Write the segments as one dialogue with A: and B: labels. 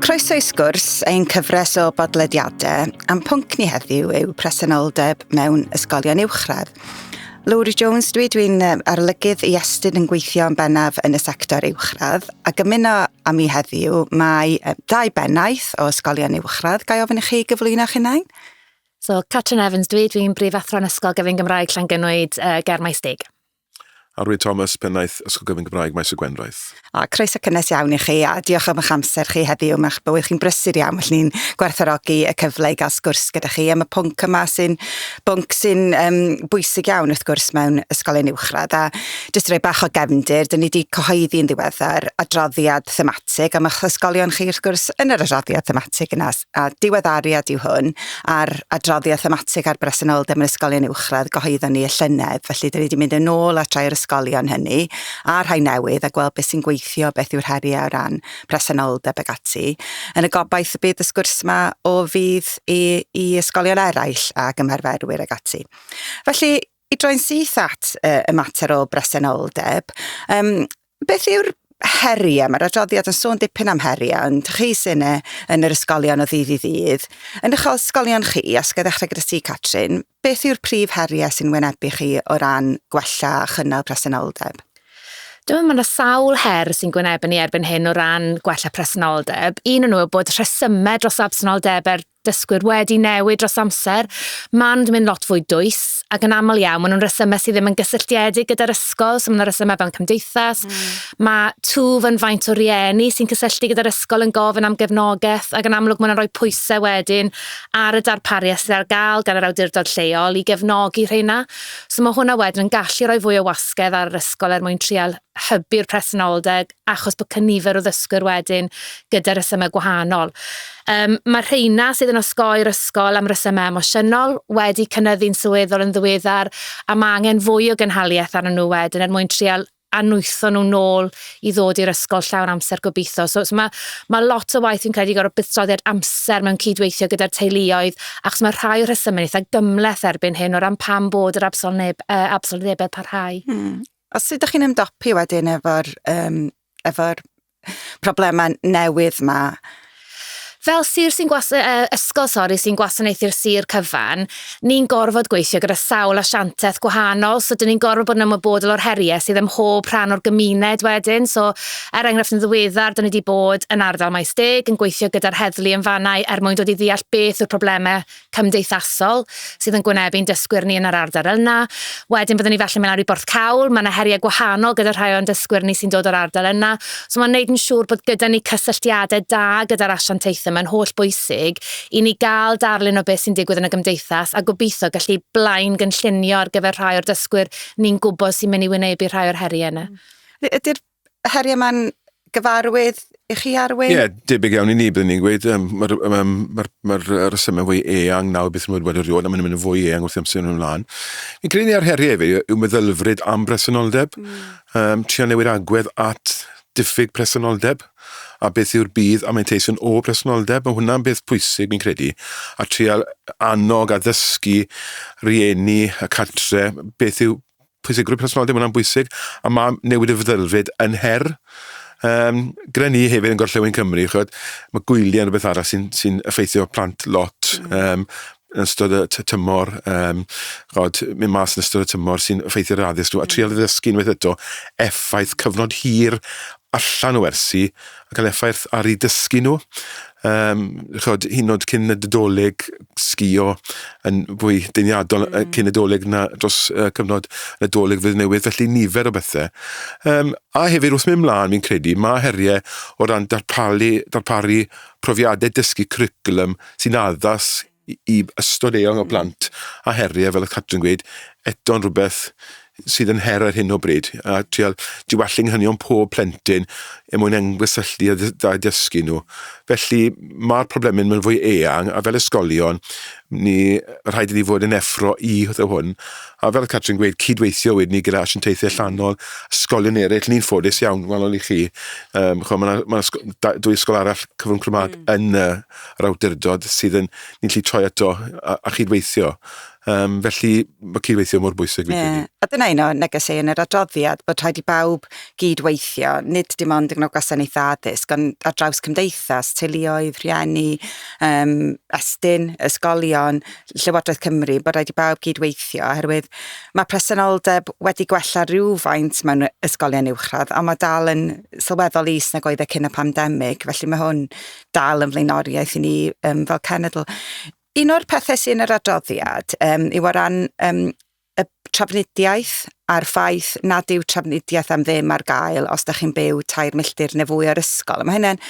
A: Croeso i sgwrs ein cyfres o bodlediadau am pwnc ni heddiw yw presenoldeb mewn ysgolion uwchradd. Lowri Jones dwi, dwi'n arolygydd i Estyn yn gweithio yn bennaf yn y sector uwchradd a gymuno â mi heddiw mae ddau bennaeth o ysgolion uwchradd. Gai ofyn i chi gyflwyno'ch hunain? So, Catrin
B: Evans dwi, dwi'n brif athro'n Ysgol Gyfun Gymraeg Llangynwyd, uh, ger Maes Deg. A Rwy
C: Thomas, pennaeth Ysgol Gyfun Gymraeg Maes y Gwendraeth. A, croeso cynnes
A: iawn i chi a diolch am eich amser chi heddiw, mae'ch bywyd chi'n brysur iawn, felly ni'n gwerthorogi y cyfle i gael sgwrs gyda chi am y pwnc yma sy'n bwnc sy'n um, bwysig iawn wrth gwrs mewn ysgolion uwchradd. A jyst rhoi bach o gefndir, dyn ni wedi cyhoeddi yn ddiweddar adroddiad thematig am eich ysgolion chi wrth gwrs yn yr adroddiad thematig yna. a diweddariad yw hwn ar adroddiad thematig ar bresenoldeb mewn ysgolion uwchradd gyhoeddon ni y llynedd. Felly, dyn ni wedi mynd yn ôl at rai o'r ysgolion hynny, a rhai newydd, a gweld beth sy'n gweithio, beth yw'r heriau o ran presenoldeb ag ati. Yn y gobaith y bydd y sgwrs yma o fydd i, i ysgolion eraill ac ymarferwyr ag ati. Felly, I droi'n syth at uh, y mater o bresenoldeb, um, beth yw'r heriau? Mae'r adroddiad yn sôn dipyn am heriau, ond chi sy'n e, yn yr ysgolion o ddydd i ddydd. Yn eich ysgolion chi, os gael ddechrau gyda ti, Catrin, beth yw'r prif heriau sy'n wynebu chi o ran gwella a chynnal presenoldeb? Dwi'n meddwl
B: mae yna sawl her sy'n gwynebu ni erbyn hyn o ran gwella presenoldeb. Un o'n nhw yw bod rhesymau dros absenoldebau'r dysgwyr wedi newid dros amser, maen nhw'n mynd lot fwy dwys, ac yn aml iawn maen nhw'n resymau sydd ddim yn gysylltiedig gyda'r ysgol, so maen nhw'n resymau fewn cymdeithas, mm. mae twf yn faint o rieni sy'n cysylltu gyda'r ysgol yn gofyn am gefnogaeth, ac yn amlwg maen nhw'n rhoi pwysau wedyn ar y darpariaeth sydd ar gael gan yr awdurdod lleol i gefnogi rheina. So mae hwnna wedyn yn gallu rhoi fwy o wasgedd ar yr ysgol er mwyn trial hybu'r presenoldeb achos bod cynifer o ddysgwyr wedyn gyda rhesymau gwahanol. Um, mae rheina sydd yn osgoi'r ysgol am resymau emosiynol wedi cynnyddu'n sylweddol yn ddiweddar a mae angen fwy o gynhaliaeth arnyn nhw wedyn er mwyn trial anwytho nhw'n nôl i ddod i'r ysgol llawn amser gobeithio. So, so mae, mae lot o waith fi'n credu gorau buddsoddiad amser mewn cydweithio gyda'r teuluoedd, achos mae rhai o'r rhesymau eitha gymleth erbyn hyn o ran pam bod yr absolneb, uh, absolnebau parhau. Mm. A sut 'dach
A: chi'n ymdopi wedyn efo'r yym efo'r problema newydd 'ma? Fel
B: sir sy'n gwas- uh, ysgol sori sy'n gwasanaethu'r sir cyfan, ni'n gorfod gweithio gyda sawl asiantaeth gwahanol, so dyn ni'n gorfod bod yn ymwybodol o'r heriau sydd ym mhob rhan o'r gymuned wedyn. So, er enghraifft yn ddiweddar, dyn ni wedi bod yn ardal Maes Deg yn gweithio gyda'r heddlu yn fanau er mwyn dod i ddeall beth yw'r problemau cymdeithasol sydd yn gwynebu ein dysgwyr ni yn yr ardal yna. Wedyn byddwn ni felly mynd lawr i Borthcawl, mae yna heriau gwahanol gyda rhai o'n dysgwyr ni sy'n dod o'r ardal yna. So mae'n gwneud yn siŵr bod gyda ni cysylltiadau da gyda'r asiantaethau, mae'n holl bwysig i ni gael darlun o beth sy'n digwydd yn y gymdeithas a gobeithio gallu blaen gynllunio ar gyfer rhai o'r dysgwyr ni'n gwybod sy'n mynd i wynebu rhai o'r heriau yna. Ydy'r
A: heriau mae'n gyfarwydd i chi arwyn? Ie, yeah, debyg iawn i ni,
C: byddwn ni'n gweud, um, mae'r ma, ma, ma, ma resymau fwy eang nawr beth yw'n wedi rioed, a maen nhw'n mynd yn fwy eang wrth amser nhw'n ymlaen. Fi'n credu ni ar heriau hefyd yw meddylfryd am bresenoldeb, mm. um, trio newid agwedd at diffyg presenoldeb a beth yw'r bydd a mae'n teisyn o bresenoldeb. Mae hwnna'n beth pwysig, fi'n credu. A trial annog a ddysgu rieni y cartre beth yw pwysigrwydd personoldeb, hwnna'n bwysig, a mae newid y feddylfryd yn her um, gyda ni hefyd yn gorllewin Cymru, chod, mae gwyliau yn rhywbeth arall sy'n sy effeithio plant lot mm. um, yn ystod y tymor, um, chod, mynd mas yn ystod y tymor sy'n effeithio'r addysg nhw, a mm. trial ddysgu unwaith eto effaith cyfnod hir allan o wersi a cael effaith ar eu dysgu nhw. Um, chod, hyn oed cyn y dydoleg sgio yn fwy deiniadol mm. cyn y doleg na dros uh, cyfnod y doleg fydd newydd, felly nifer o bethau. Um, a hefyd wrth mynd mlaen, fi'n credu, mae heriau o ran darparu, darparu profiadau dysgu cwricwlwm sy'n addas i ystod eang o hmm. blant a heriau, fel y Catrin gweud, eto'n rhywbeth sydd yn her ar hyn o bryd, a trial diwallu nghanion pob plentyn er mwyn engwysylltu a da dysgu nhw. Felly mae'r problemau yn mynd fwy eang, a fel ysgolion, ni rhaid i ni fod yn effro i hwtho hwn. A fel y Catrin gweud, cydweithio wedyn ni gyda asiantaethau allanol, ysgolion eraill, ni'n ffodus iawn, wahanol i chi. Um, chwa, mae yna ma dwy ysgol arall cyfrwng Cymraeg mm. yn y yr awdurdod sydd yn ni'n lli troi ato a, a chydweithio. Um, felly mae cydweithio mor bwysig fi'n credu. A dyna un o
A: negesau yn yr adroddiad bod rhaid i bawb gydweithio, nid dim ond yn gwasanaethau addysg, ond ar draws cymdeithas, teuluoedd, rhieni, um, estyn, ysgolion, Llywodraeth Cymru, bod rhaid i bawb gydweithio, oherwydd mae presenoldeb wedi gwella rhywfaint mewn ysgolion uwchradd, ond mae dal yn sylweddol is nag oedd e cyn y pandemig, felly mae hwn dal yn flaenoriaeth i ni um, fel cenedl. Un o'r pethau sy'n yr adroddiad um, yw o ran um, y trafnidiaeth a'r ffaith nad yw trafnidiaeth am ddim ar gael os da chi'n byw tair milltir neu fwy o'r ysgol. Mae hynny'n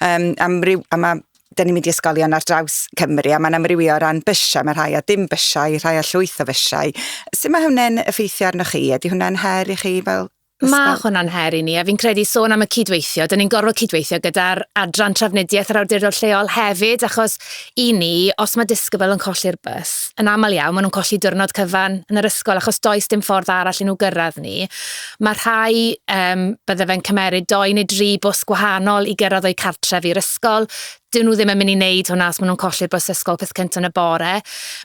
A: um, amryw, a mae da ni'n mynd i ysgolion ar draws Cymru a mae'n amrywio o ran bysiau, mae rhai a dim bysiau, rhai a llwyth o fysiau. Sut mae hwnna'n effeithio arnoch chi? Ydy hwnna'n her i chi fel Mae hwnna'n her i
B: ni, a fi'n credu sôn am y cydweithio, dyn ni'n gorfod cydweithio gyda'r adran trafnidiaeth yr awdurdod lleol hefyd, achos i ni, os mae disgybl yn colli'r bus, yn aml iawn maen nhw'n colli diwrnod cyfan yn yr ysgol, achos does dim ffordd arall i nhw gyrraedd ni. Mae rhai, um, bydde fe'n cymeryd doi neu dri bws gwahanol i gyrraedd o'u cartref i'r ysgol, 'dyn nhw ddim yn mynd i wneud hwnna os maen nhw'n colli'r bws ysgol peth cyntaf yn y bore.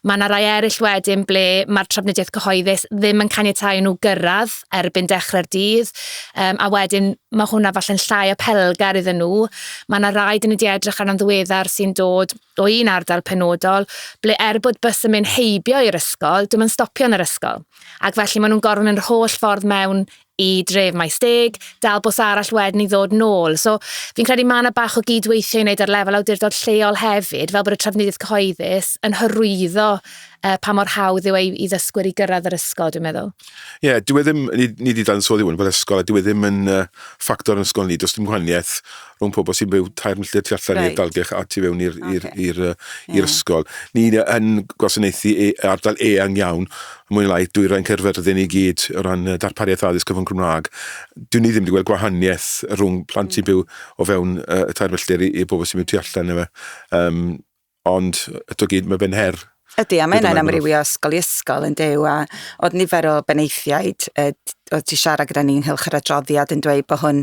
B: Mae yna rai eraill wedyn ble mae'r trafnidiaeth cyhoeddus ddim yn caniatáu nhw gyrraedd erbyn dechrau'r dydd, um, a wedyn mae hwnna falle'n llai apelgar iddyn nhw. Mae yna rai dyn ni wedi edrych arno'n ddiweddar sy'n dod o un ardal penodol, ble er bod bus yn mynd heibio i'r ysgol, dwi'n mynd stopio yn yr ysgol. Ac felly maen nhw'n gorfod mynd yr holl ffordd mewn i dref Maesteg, dal bws arall wedyn i ddod nôl. So fi'n credu mae yna bach o gyd-weithio i wneud ar lefel awdurdod lleol hefyd, fel bod y trafnidiaeth cyhoeddus yn hyrwyddo uh, pa mor hawdd yw ei i ddysgwyr i gyrraedd yr ysgol, dwi'n meddwl. Ie, yeah, dwi e ddim,
C: ni, ni di dansoddi hwn, bod ysgol, a dwi e ddim yn uh, ffactor yn ysgol ni, does dim gwahaniaeth mewn pobl sy'n byw tair milltir tu allan right. i'r dalgylch a tu fewn i'r okay. yeah. ysgol. Ni yn gwasanaethu e, ardal eang iawn, mwy lai dwy rhain Caerfyrddin i gyd o ran darpariaeth addysg cyfan Cymraeg. Dwi'n ni ddim wedi gweld gwahaniaeth rhwng plant sy'n mm. byw o fewn uh, y tair milltir i, i bobl sy'n byw tu allan efe. Um, Ond eto gyd, mae fe'n her. Ydy, a mae yna'n amrywio
A: ysgol i ysgol yn dew, a oedd nifer o benaethiaid oedd ti siarad gyda ni'n hylch yr adroddiad yn dweud bod hwn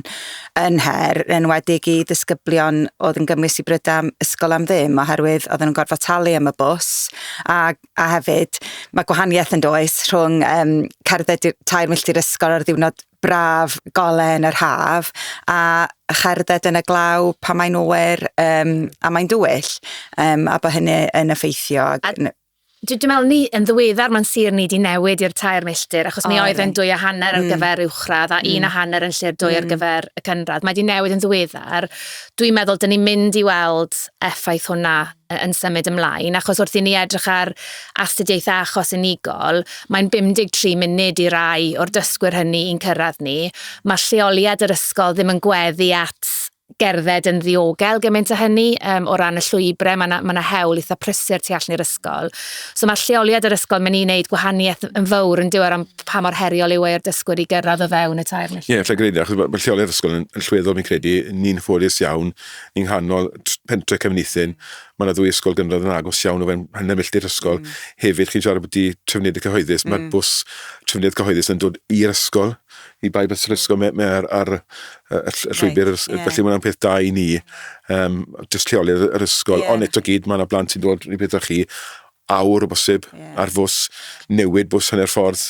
A: yn her, yn wedig i ddisgyblion oedd yn gymwys i brydau ysgol am ddim, oherwydd oedd yn gorfod talu am y bws, a, a hefyd mae gwahaniaeth yn does rhwng um, cerdded tair milltir ysgol ar ddiwrnod braf golau yn yr haf a cherdded yn y glaw pan mae'n oer um, a mae'n dywyll um, a bod hynny yn effeithio. A, dwi'n
B: meddwl ni yn ddiweddar mae'n sir ni wedi newid i'r tair milltir achos mi oedd yn dwy a hanner ar mm. gyfer uwchradd a mm. un a hanner yn lle'r dwy mm. ar gyfer y cynradd. Mae wedi newid yn ddiweddar. Dwi'n meddwl dyn ni'n mynd i weld effaith hwnna yn symud ymlaen, achos wrth i ni edrych ar astudiaethau achos unigol, mae'n 53 munud i rai o'r dysgwyr hynny i'n cyrraedd ni. Mae lleoliad yr ysgol ddim yn gweddu at gerdded yn ddiogel gymaint â hynny um, o ran y llwybrau, mae yna ma hewl eitha prysur tu allan i'r ysgol. So mae lleoliad yr ysgol, mae'n ei wneud gwahaniaeth yn fawr yn diwer am pa mor heriol yw e'r dysgwyr i gyrraedd o fewn y tair milltir. Ie, yeah, lle gyda, achos mae lleoliad
C: ysgol yn, yn llweddol, mi'n credu, ni'n ffodus iawn yng nghanol pentre Cefnithin. Mae yna ddwy ysgol gynradd yn agos iawn o fewn hanner milltir ysgol. Mm. Hefyd, chi'n siarad bwti trefniedig cyhoeddus, mm. mae'r bws trefniedig cyhoeddus yn dod i'r ysgol, i bai bys yr ysgol, mae, mae ar, ar y, y llwybr, right. yeah. felly mae'n peth da i ni, um, just lleoli yr ysgol. Yeah. Ond eto gyd, mae yna blant sy'n dod i beth chi, awr o bosib yeah. ar fws, newid bws hanner ffordd,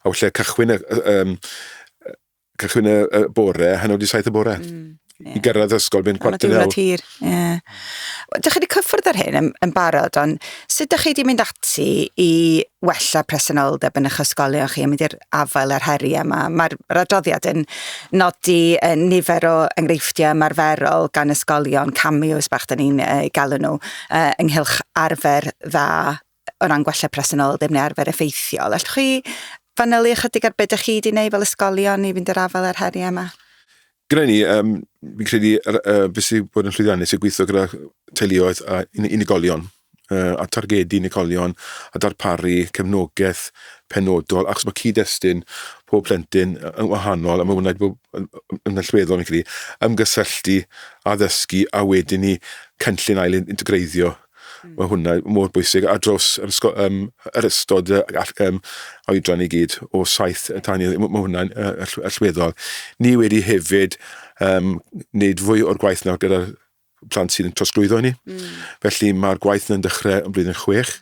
C: a wyllau cychwyn y, y, y, Cychwyn y, y bore, hanner wedi saith y bore. Mm, yeah. I gyrraedd ysgol, fynd cwarter naw. Ond hir, ie.
A: Yeah. Dych chi wedi cyffwrdd ar hyn yn, yn barod, ond sut dych chi wedi mynd ati i wella presenoldeb yn eich ysgolion chi a mynd i'r afael â'r heriau yma? Mae'r radoddiad yn nodi yn nifer o enghreifftiau ymarferol gan ysgolion, cameos bach dyn ni'n uh, galw nhw, uh, ynghylch arfer dda o ran gwella presenoldeb neu arfer effeithiol. Allwch chi fanylu ychydig ar beth ydych chi wedi gwneud fel ysgolion i fynd yr afael â'r heriau yma? Gyda ni,
C: um, fi'n credu uh, beth sy'n bod yn llwyddiannus yw gweithio gyda teuluoedd a unigolion uh, a targedu unigolion a darparu cefnogaeth penodol achos mae cyd-destun pob plentyn yn wahanol a mae hwnna'n bod yn allweddol yn credu ymgysylltu, addysgu a wedyn ni cynllun ail integreiddio Mae hwnna mor bwysig ar draws yr, ysgol, um, yr ystod uh, all, um, oedran i gyd o saith tan i... Mae hwnna'n uh, allweddol. Ni wedi hefyd um, wneud fwy o'r gwaith nawr gyda'r plant sydd yn trosglwyddo ni. Mm. Felly mae'r gwaith yn dechrau yn blwyddyn chwech.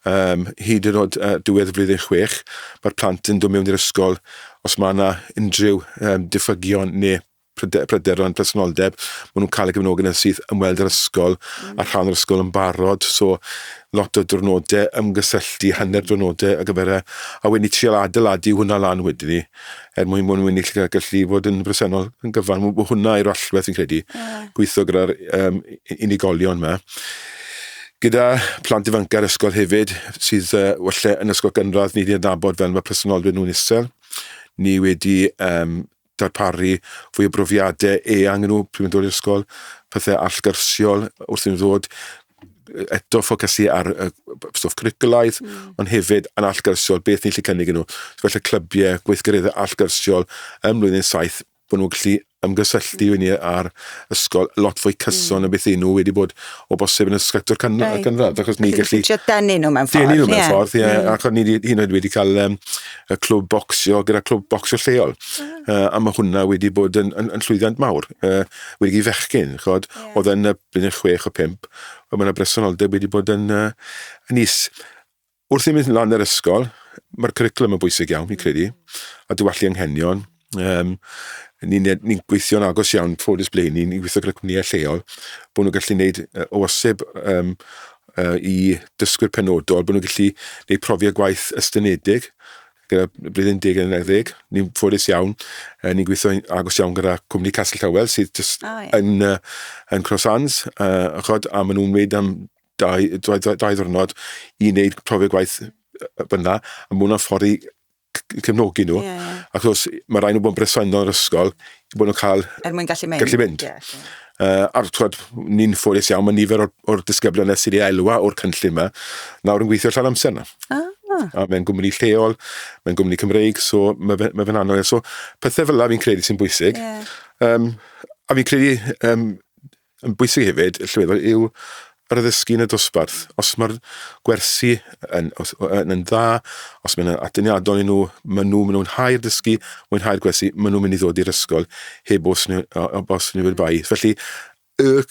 C: Um, hyd yn oed uh, diwedd flwyddyn chwech, mae'r plant yn dod mewn i'r ysgol os mae yna unrhyw um, diffygion neu pryderon presenoldeb, maen nhw'n cael y gefnogaeth yn syth ymweld â'r ysgol, mm. a rhan o'r ysgol yn barod, so lot o drwnodau ymgysylltu, hanner drwnodau ar gyfer e, a wedyn i trial adeiladu hwnna lan wedyn ni, er mwyn mwyn mwyn i chi gallu fod yn bresennol yn gyfan, mae hwnna i'r allwedd fi'n credu, yeah. gweithio gyda'r um, unigolion yma. Gyda plant ifanc ar ysgol hefyd, sydd uh, welle yn ysgol gynradd, ni wedi adnabod fel mae presenoldeb nhw'n isel. Ni wedi um, darparu fwy o brofiadau eang i nhw pryd mae'n dod i'r ysgol, pethau allgyrsiol wrth i'n ddod, eto ffocysu ar y stwff cwricwlaidd, mm. ond hefyd yn allgyrsiol, beth ni'n lle cynnig nhw. So, felly clybiau, gweithgareddau allgyrsiol ym mlynedd saith, bod nhw'n gallu ymgysylltu mm. ni ar ysgol lot fwy cyson mm. o beth nhw wedi bod o bosib yn ysgactor can, right. canradd. Achos ni gallu... Denu nhw mewn ffordd. Denu
A: nhw mewn ffordd, ie. Yeah. Mm.
C: Ac o'n ni hyn oed wedi cael um, y clwb bocsio gyda clwb bocsio lleol. Uh, a mae hwnna wedi bod yn, yn, yn llwyddiant mawr. Uh, wedi i fechgyn, chod, yeah. oedd yn y blynedd chwech o pimp, a mae yna bresenoldeb wedi bod yn, uh, yn is. Wrth i mynd lan yr ysgol, mae'r cwricwlwm yn bwysig iawn, fi'n credu, a diwallu anghenion, Um, ni'n ni gweithio'n agos iawn, ffodus ble ni'n ni gweithio gyda cwmnïau lleol, bod nhw'n gallu gwneud uh, o aseb um, uh, i dysgwyr penodol, bod nhw'n gallu gwneud profiad gwaith ystynedig gyda blwyddyn 10 yn edrych. Ni'n ffodus iawn, uh, ni'n gweithio agos iawn gyda cwmni Castle Towel sydd just oh, yeah. yn, uh, yn Cross Hands, uh, achod, a maen nhw'n wneud am dau, dau, dau, dau ddwrnod i wneud profiad gwaith fyna, a maen nhw'n ffordd i cefnogi nhw. Yeah, yeah. Ac os mae rhaid nhw bod yn bresennol yn yr ysgol, i bod nhw'n cael... Er mwyn gallu mynd. Gallu mynd. Yeah, yeah. Uh, a'r twad, ni'n ffodus iawn, mae nifer o'r, or disgyblion nes i'r elwa o'r cynllun yma, nawr yn gweithio allan amser yna. Ah. A mae'n gwmni lleol, mae'n gwmni Cymreig, so mae fe'n mae fe anodd. So pethau fel yna fi'n credu sy'n bwysig. Yeah. Um, a fi'n credu um, Yn bwysig hefyd, llwyddo yw yr addysgu yn y dosbarth. Os mae'r gwersi yn, os, yn, yn dda, os mae'n adyniadol i nhw, maen nhw, maen nhw'n hau'r dysgu, mwynhau'r gwersi, maen nhw'n mynd i ddod i'r ysgol heb os nhw, os nhw wedi bai. Felly, y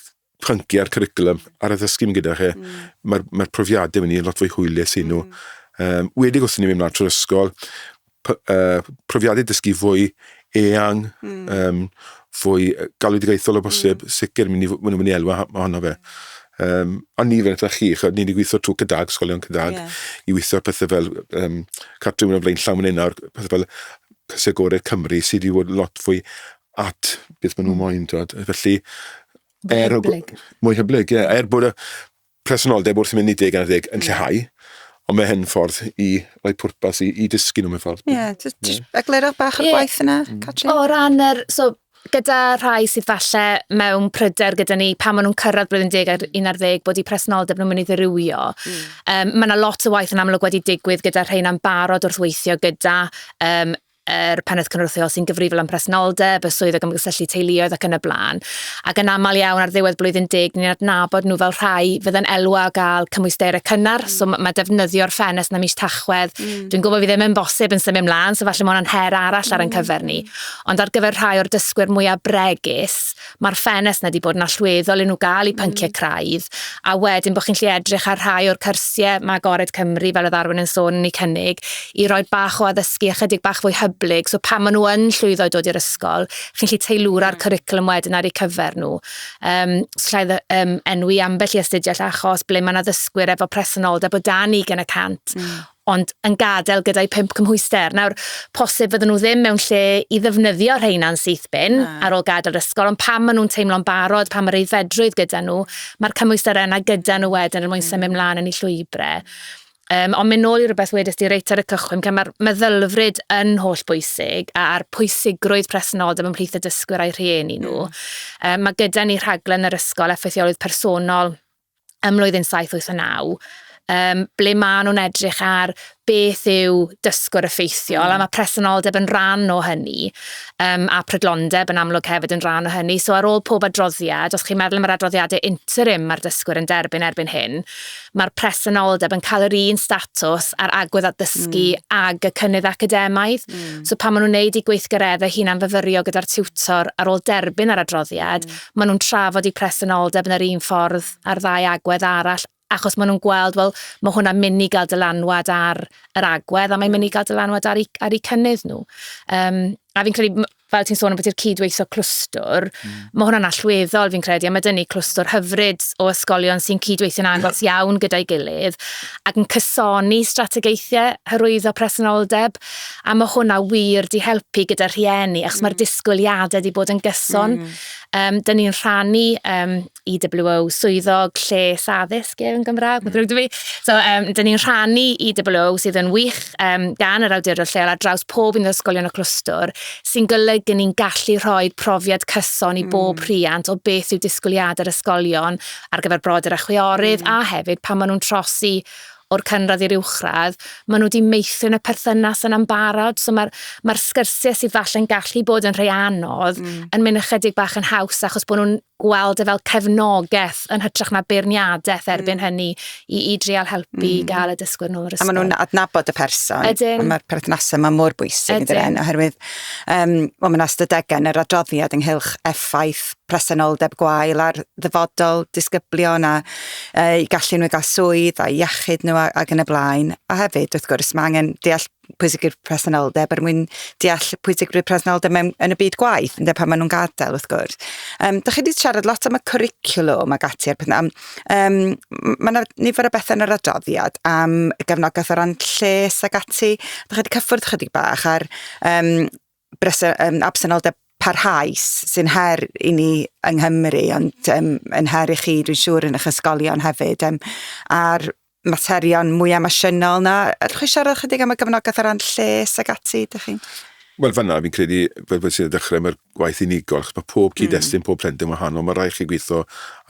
C: pynciau a'r cwricwlwm a'r addysgu mynd gyda chi, mm. mae'r mae profiadau mynd i'n lot fwy hwylus i nhw. Mm. Um, wedig wrth i ni mynd mlaen trwy'r ysgol, profiadau dysgu fwy eang, mm. um, fwy galwedigaethol o hmm. bosib, mm. sicr, mynd i, mynd i elwa ohono fe. Um, ond ni fel chi, chod, ni wedi gweithio trwy cydag, sgolion cydag, yeah. i weithio pethau fel um, cartref yn o flaen llawn yn nawr, pethau fel Cysau Gorau Cymru, sydd wedi bod lot fwy at beth maen nhw'n hmm. moyn, dod. Felly, er, mwy hyblyg, ie. Er bod y presenoldeb wrth i mi nid gan ddeg yn lleihau, ond mae hyn ffordd i roi pwrpas i, i dysgu nhw mewn ffordd. Ie, yeah, just, just mm. eglurwch
A: bach o'r yeah. gwaith yna, mm. Catrin. O ran yr, so,
B: gyda rhai sydd falle mewn pryder gyda ni pan maen nhw'n cyrraedd blwyddyn 10 ar 11 bod i presenoldeb nhw'n mynd i ddirywio. Mm. Um, mae yna lot o waith yn amlwg wedi digwydd gyda rhain am barod wrth weithio gyda um, yr Pennaeth Cynrychiol sy'n gyfrifol am presenoldeb, y Swyddog am Gysylltu Teuluoedd ac yn y blaen. Ac yn aml iawn ar ddiwedd blwyddyn deg, ni'n adnabod nhw fel rhai fydd yn elw a gael cymwysterau cynnar, mm. so mae defnyddio'r ffenest na mis tachwedd. Mm. Dwi'n gwybod fi ddim yn bosib yn symud ymlaen, so falle mae hwnna'n her arall mm. ar ein cyfer ni. Ond ar gyfer rhai o'r dysgwyr mwyaf bregus, Mae'r ffenest 'na 'di bod yn allweddol i nhw gael eu pynciau craidd, a wedyn bod chi'n gallu edrych ar rhai o'r cyrsiau ma' Agored Cymru, fel oedd Arwyn yn sôn, yn eu cynnig, i roi bach o addysgu ychydig bach fwy hyblyg, so pan maen nhw yn llwyddo i dod i'r ysgol, chi'n gallu teilwra'r cwricwlwm wedyn ar eu cyfer nhw. Yym, os alla i um, enwi ambell i astudiaeth achos ble mae yna ddysgwyr efo presenoldeb o dan ugain y cant ond yn gadael gyda'u pump cymhwyster. Nawr, posib fydden nhw ddim mewn lle i ddefnyddio rheina'n syth bin Na. ar ôl gadael yr ysgol, ond pam maen nhw'n teimlo'n barod, pam mae'r aeddfedrwydd gyda nhw, mae'r cymhwyster yna gyda nhw wedyn er mwyn mm. symud mlaen yn ei llwybrau. Um, ond mynd nôl i rhywbeth wedys di reit ar y cychwyn, lle mae'r meddylfryd yn holl bwysig a'r pwysigrwydd presenoldeb ymhlith y dysgwyr a'i rhieni nhw. Um, mm. mae gyda ni rhaglen yr ysgol effeithiolwydd personol ym mlwyddyn 789, um, ble maen nhw'n edrych ar beth yw dysgwr effeithiol, mm. a mae presenoldeb yn rhan o hynny, um, a prydlondeb yn amlwg hefyd yn rhan o hynny. So ar ôl pob adroddiad, os chi'n meddwl am yr adroddiadau interim mae'r dysgwr yn derbyn erbyn hyn, mae'r presenoldeb yn cael yr un statws a'r agwedd addysgu mm. ag y cynnydd academaidd. Mm. So pan maen nhw'n neud i gweithgareddau hunan fyfyrio gyda'r tiwtor ar ôl derbyn yr adroddiad, mm. maen nhw'n trafod eu presenoldeb yn yr un ffordd â'r ddau agwedd arall, achos maen nhw'n gweld, wel, mae hwnna'n mynd i gael dylanwad ar yr agwedd, a mae'n mynd i gael dylanwad ar eu, ar eu cynnydd nhw. Um, a fi'n credu, fel ti'n sôn am bod i'r cydweithio clwstwr, mm. mae hwnna'n allweddol fi'n credu, a mae dyn ni clwstwr hyfryd o ysgolion sy'n cydweithio'n agos iawn gyda'i gilydd, ac yn cysoni strategaethau hyrwyddo presenoldeb, A mae hwnna wir di helpu gyda rhieni, achos mm. mae'r disgwyliadau di bod yn gyson. Mm. Um, Dyna ni'n rhannu um, EWO swyddog lles addysg yn Gymraeg, mm. dwi. So, um, dyna ni'n rhannu EWO sydd yn wych um, gan yr awdurdod lleol ar draws pob un o'r ysgolion y clwstwr, sy'n golygu ni'n gallu rhoi profiad cyson i bob mm. rhiant o beth yw disgwyliadau'r ysgolion ar gyfer brodyr a chwiorydd, mm. a hefyd pan maen nhw'n trosi o'r cynradd i'r uwchradd, maen nhw wedi meithrin y perthynas yna'n barod. So mae'r ma sgyrsiau sydd falle'n gallu bod yn rhai anodd mm. yn mynd ychydig bach yn haws achos bod nhw'n gweld e fel cefnogaeth yn hytrach na beirniadaeth mm. erbyn mm. hynny i, i drial helpu mm. i gael y dysgwyr nôl yr ysgol. A maen nhw'n adnabod y
A: person. Ydyn. A mae'r perthnasau
B: yma
A: mor bwysig yn dyn, oherwydd um, well, mae'n astadegau yn yr adroddiad ynghylch effaith presenoldeb gwael ar ddyfodol disgyblion a eu gallu nhw i gael swydd a iechyd nhw ac yn y blaen. A hefyd, wrth gwrs, mae angen deall pwysigrwydd presenoldeb er mwyn deall pwysigrwydd presenoldeb mewn, yn y byd gwaith, ynddo, pan maen nhw'n gadael, wrth gwrs. Um, da chi wedi siarad lot am y cwricwlwm ac ati, er am, um, mae yna nifer o bethau yn yr adroddiad am gefnogaeth o ran lles ac ati. Da chi wedi cyffwrdd chydig bach ar um, bres- um, absenoldeb parhaus sy'n her i ni yng Nghymru, ond um, yn her i chi, dwi'n siŵr, yn eich ysgolion hefyd. Um, a'r materion mwy emosiynol na, allwch chi siarad chydig am y gefnogaeth ar ran lles ag ati, ydych chi'n... Wel, fanna, fi'n
C: credu, fel bod sy'n ddechrau, mae'r gwaith unigol, achos mae pob cyd-destun, mm. pob plentyn wahanol, mae rhaid chi gweithio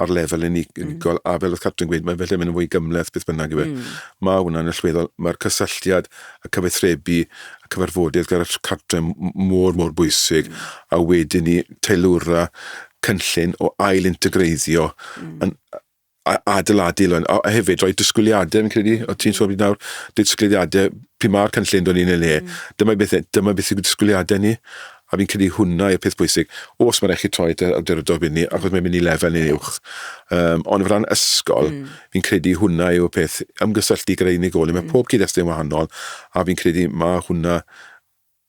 C: ar lefel mm. unigol, mm. a fel oedd Catrin gweud, mae felly mynd yn fwy gymleth, beth bynnag i fe. Mm. Mae hwnna'n allweddol, mae'r cysylltiad, y cyfathrebu, cyfarfodydd gyda'r cartre mor, mor bwysig, mm. a wedyn ni teilwra cynllun o ail integreiddio mm. yn adeiladu lwn, a hefyd rhoi disgwyliadau, fi'n credu, o ti'n sôn nawr, disgwyliadau, pwy mae'r cynllun do'n ni'n ei le, mm. dyma beth, e, dyma beth yw'r disgwyliadau ni, A fi'n credu hwnna yw'r peth pwysig. Os mae'n rhaid chi troi at yr awdurdod wedyn, achos mae'n mynd i lefel neu'n uwch. Um, ond o ran ysgol, mm. fi'n credu hwnna yw'r peth ymgysylltu gyda'r unigolyn. Mae mm. pob cyd-destun wahanol, a fi'n credu mae hwnna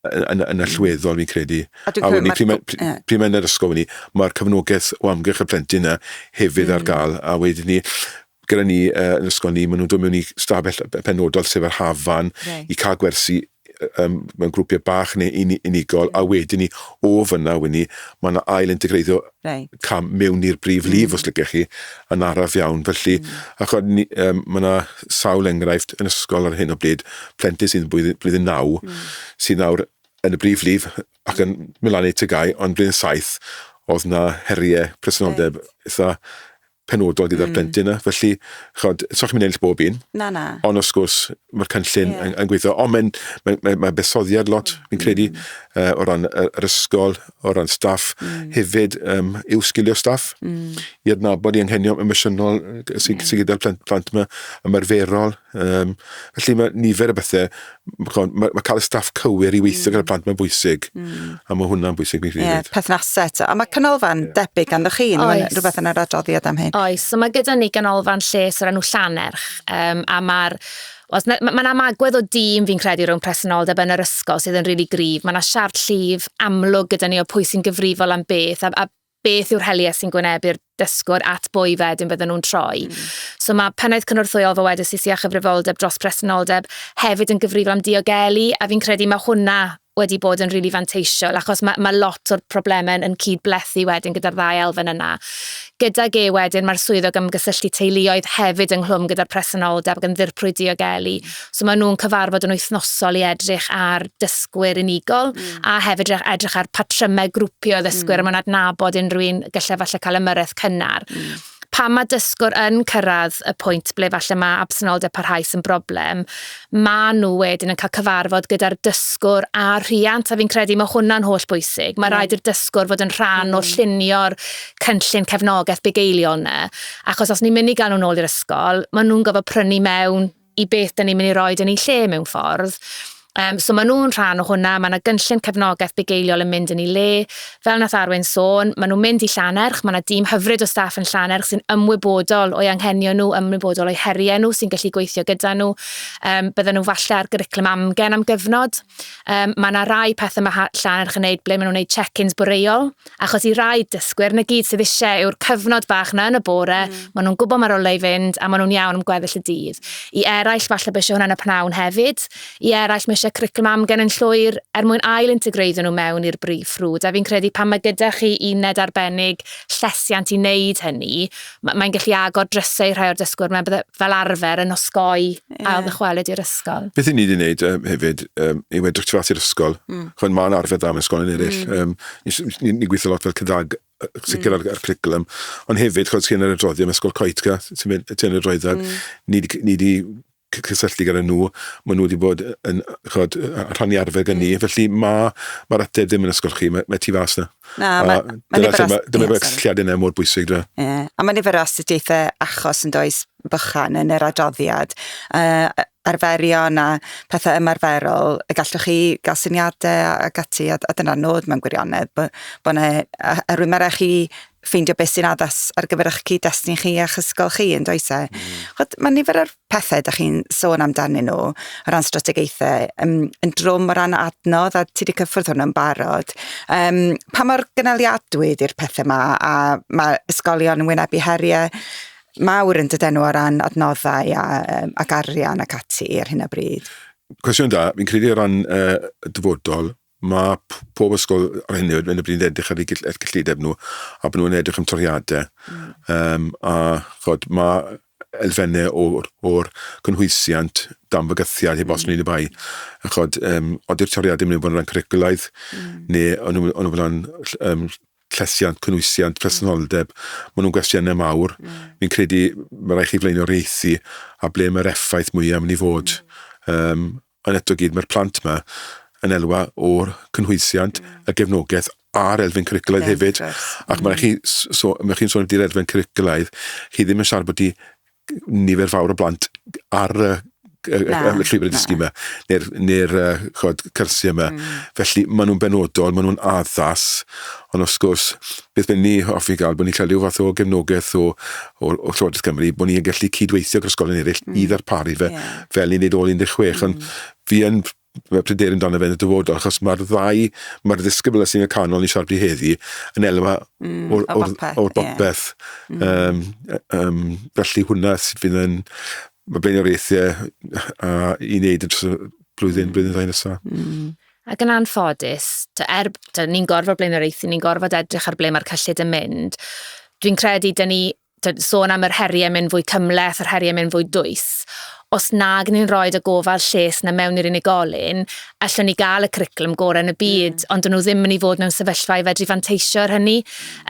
C: yn, yn, y llweddol, fi'n credu. A, a wedyn, pryd mae'n pryd mae yr ysgol ni, mae'r cyfnogaeth o amgylch y plentyn yna hefyd mm. ar gael, a wedyn ni, gyda ni uh, yn ysgol ni, maen nhw'n dod mewn i stafell penodol sef yr hafan right. i cael gwersi yym mewn grwpiau bach neu uni- unigol a wedyn 'ny o fan'na wn i ma' 'na ail integreiddio Reit. cam mewn i'r brif lif os liciech chi yn araf iawn felly a ch'od ni yym ma' 'na sawl enghraifft yn ysgol ar hyn o bryd plentyn sy'n blwydd- blwyddyn naw sy nawr yn y brif lif ac yn myn' lan i tŷ gau ond blwyddyn saith o'dd 'na herie presenoldeb itha penodol gyda'r plentyn yna, felly, chod, so chi'n mynd ennill bob un. Na, na. Ond wrth gwrs, mae'r cynllun yeah. yn, yn gweithio, ond mae'n mae, mae, mae besoddiad lot, mm. fi'n credu, uh, o ran yr ysgol, o ran staff, mm. hefyd um, i'w sgilio staff, mm. i adnabod i anghenion emosiynol sy'n yeah. sy gyda'r plant, plant yma, ymarferol, Um, felly mae nifer y bethau, mae, mae, mae cael y staff cywir i weithio mm. gyda'r plant mae'n bwysig, mm. a mae hwnna'n bwysig ni rhywbeth. Yeah, perthnasau eto, a mae
A: canolfan yeah. debyg gan chi, mae'n rhywbeth yn yr adroddiad am hyn. Oes, so mae gyda ni
B: ganolfan lles o'r enw Llanerch, um, a mae'r Os mae'n ma amagwedd o dîm fi'n credu rhwng presenoldeb yn yr ysgol sydd yn rili really gryf. Mae yna siart llif amlwg gyda ni o pwy sy'n gyfrifol am beth a, a beth yw'r heliau sy'n gwynebu'r dysgwr at bwy wedyn bydden nhw'n troi. Mm. So mae pennaeth cynorthwyol fo wedi sisi a chyfrifoldeb dros presenoldeb hefyd yn gyfrifol am diogelu a fi'n credu mae hwnna wedi bod yn rili really fanteisiol achos mae, mae lot o'r problemau yn cyd-blethu wedyn gyda'r ddau elfen yna. Gydag e wedyn mae'r swyddog ymgysylltu teuluoedd hefyd ynghlwm gyda'r presenoldeb ac yn ddirprwy diogelu. So maen nhw'n cyfarfod yn wythnosol i edrych ar dysgwyr unigol mm. a hefyd edrych ar patrymau grwpio ddysgwyr mm. a mae'n adnabod unrhyw un gallai falle cael ymyrraeth cynnar. Mm pan mae dysgwr yn cyrraedd y pwynt ble falle mae absenoldeb parhaus yn broblem, mae nhw wedyn yn cael cyfarfod gyda'r dysgwr a'r rhiant, a fi'n credu mae hwnna'n holl bwysig. Mae mm. rhaid i'r dysgwr fod yn rhan mm. o llunio'r cynllun cefnogaeth bugeilio yna, achos os ni'n mynd i gael nhw'n ôl i'r ysgol, maen nhw'n gofod prynu mewn i beth dyn ni'n mynd i roed yn ei lle mewn ffordd. Um, so maen nhw'n rhan o hwnna, mae yna gynllun cefnogaeth bugeiliol yn mynd yn ei le. Fel nath Arwen sôn, maen nhw'n mynd i Llanerch, mae yna dîm hyfryd o staff yn Llanerch sy'n ymwybodol o'i anghenion nhw, ymwybodol o'i heriau nhw, sy'n gallu gweithio gyda nhw. Um, bydden nhw falle ar gyriclum amgen am gyfnod. Um, mae yna rai pethau mae Llanerch yn gwneud ble maen nhw'n gwneud check-ins bwreol, Achos i rai dysgwyr, 'na gyd sydd eisiau yw'r cyfnod bach 'na yn y bore, mm. maen nhw'n gwybod mae'r olau i fynd a maen nhw'n iawn am gweddill y dydd. I eraill, falle bod eisiau hwnna'n y pnawn hefyd. I eraill, mae eisiau cwricwlwm amgen yn llwyr er mwyn ail integreiddio nhw mewn i'r brif ffrwd. A fi'n credu pan mae gyda chi uned arbennig llesiant i wneud hynny, ma, mae'n gallu agor drysau i rhai o'r dysgwyr, mae'n bydde fel arfer yn osgoi yeah. ail ddychwelyd i'r ysgol. Beth i ni wedi gwneud um,
C: hefyd um, yw edrych tu i'r ysgol. Mm. Chwan, mae'n arfer dda mewn ysgol yn eraill. Mm. Um, Ni'n ni gweithio lot fel cydag sicr mm. ar, y cwricwlwm, ond hefyd, chod, sy'n yr adroddiad, mae ysgol coet, ti'n mynd, ti'n yr adroddiad, mm. ni wedi cysylltu gyda nhw, maen nhw wedi bod yn chod, rhannu arfer gyda ni, felly mae mae'r ateb ddim yn ysgol chi, mae, mae tu fas na. Na, mae, mae nifer o... Dyma mae'r cysylltiad yna mor bwysig dwi. Yeah. A mae nifer o
A: astudiaethau achos yn does bychan yn yr adroddiad, uh, arferion a pethau ymarferol, y gallwch chi gael syniadau a, a gati, a, a dyna'r nod mewn gwirionedd, bod bo yna arwymera chi ffeindio beth sy'n addas ar gyfer eich cyd-destun chi a'ch ysgol chi, yn does e? Mm. Mae nifer o'r pethau da chi'n sôn amdanyn nhw, o ran strategaethau, yn, yn drwm o ran adnodd, a ti wedi cyffwrdd hwnnw yn barod. Um, pa mor gynaliadwy ydy'r pethau yma, a mae ysgolion yn wynebu heriau mawr yn dydyn nhw o ran adnoddau a, um, ac arian ac ati ar hyn o bryd? Cwestiwn da,
C: fi'n credu o ran uh, dyfodol, Mae pob ysgol ar hyn o bryd yn edrych ar eu cyllideb nhw a bod nhw'n edrych am toriadau. Mm. Um, a chod, mae elfennau o'r, or cynhwysiant dan fygythiad heb os mm. nid y bai. A chod, um, oeddi'r toriadau yn mynd bod yn rhan cwricwlaidd mm. neu ond nhw'n bod yn um, llesiant, cynhwysiant, presenoldeb. Mm. Mae nhw'n gwestiynau mawr. Mm. Fi'n credu mae rhaid chi flaenoriaethu a ble mae'r effaith mwyaf yn mynd i fod. Mm. Um, Ond eto gyd mae'r plant 'ma yn elwa o'r cynhwysiant, y gefnogaeth a'r elfen cwricwlaidd hefyd. Ac mae chi, so, mae chi'n sôn amdano'r elfen cwricwlaidd, chi ddim yn siarad bod i nifer fawr o blant ar y llwybr y dysgu yma, neu'r neu uh, chod, cyrsiau yma. Mm. Felly, maen nhw'n benodol, maen nhw'n addas, Ond wrth gwrs, beth bynnag ni hoffi gael, bod ni'n cael rhyw fath o gefnogaeth o Llywodraeth Cymru, bod ni'n gallu cydweithio gyda'r ysgolion eraill i ddarparu fe fel ni'n neud ôl 16. Ond fi yn pryderu amdano fe yn y dyfodol, achos mae'r ddau, mae'r ddisgybl sy'n y canol ni'n siarad i heddi, yn elwa o'r bopeth. Felly hwnna sydd fydd yn... Mae blaenoriaethau i wneud yn dros y blwyddyn, blwyddyn ddau nesaf. Ac yn
B: anffodus, ta, er, ta, ni'n gorfod blaenoriaethu, ni'n gorfod edrych ar ble mae'r cyllid yn mynd. Dwi'n credu, da ni ta, sôn am yr heriau mynd fwy cymleth, yr heriau mynd fwy dwys. Os nag ni'n rhoi y gofal lles na mewn i'r unigolyn, allwn ni gael y curriculum gorau yn y byd, mm. ond dyn nhw ddim yn ei fod mewn sefyllfa i fedru fanteisio ar hynny.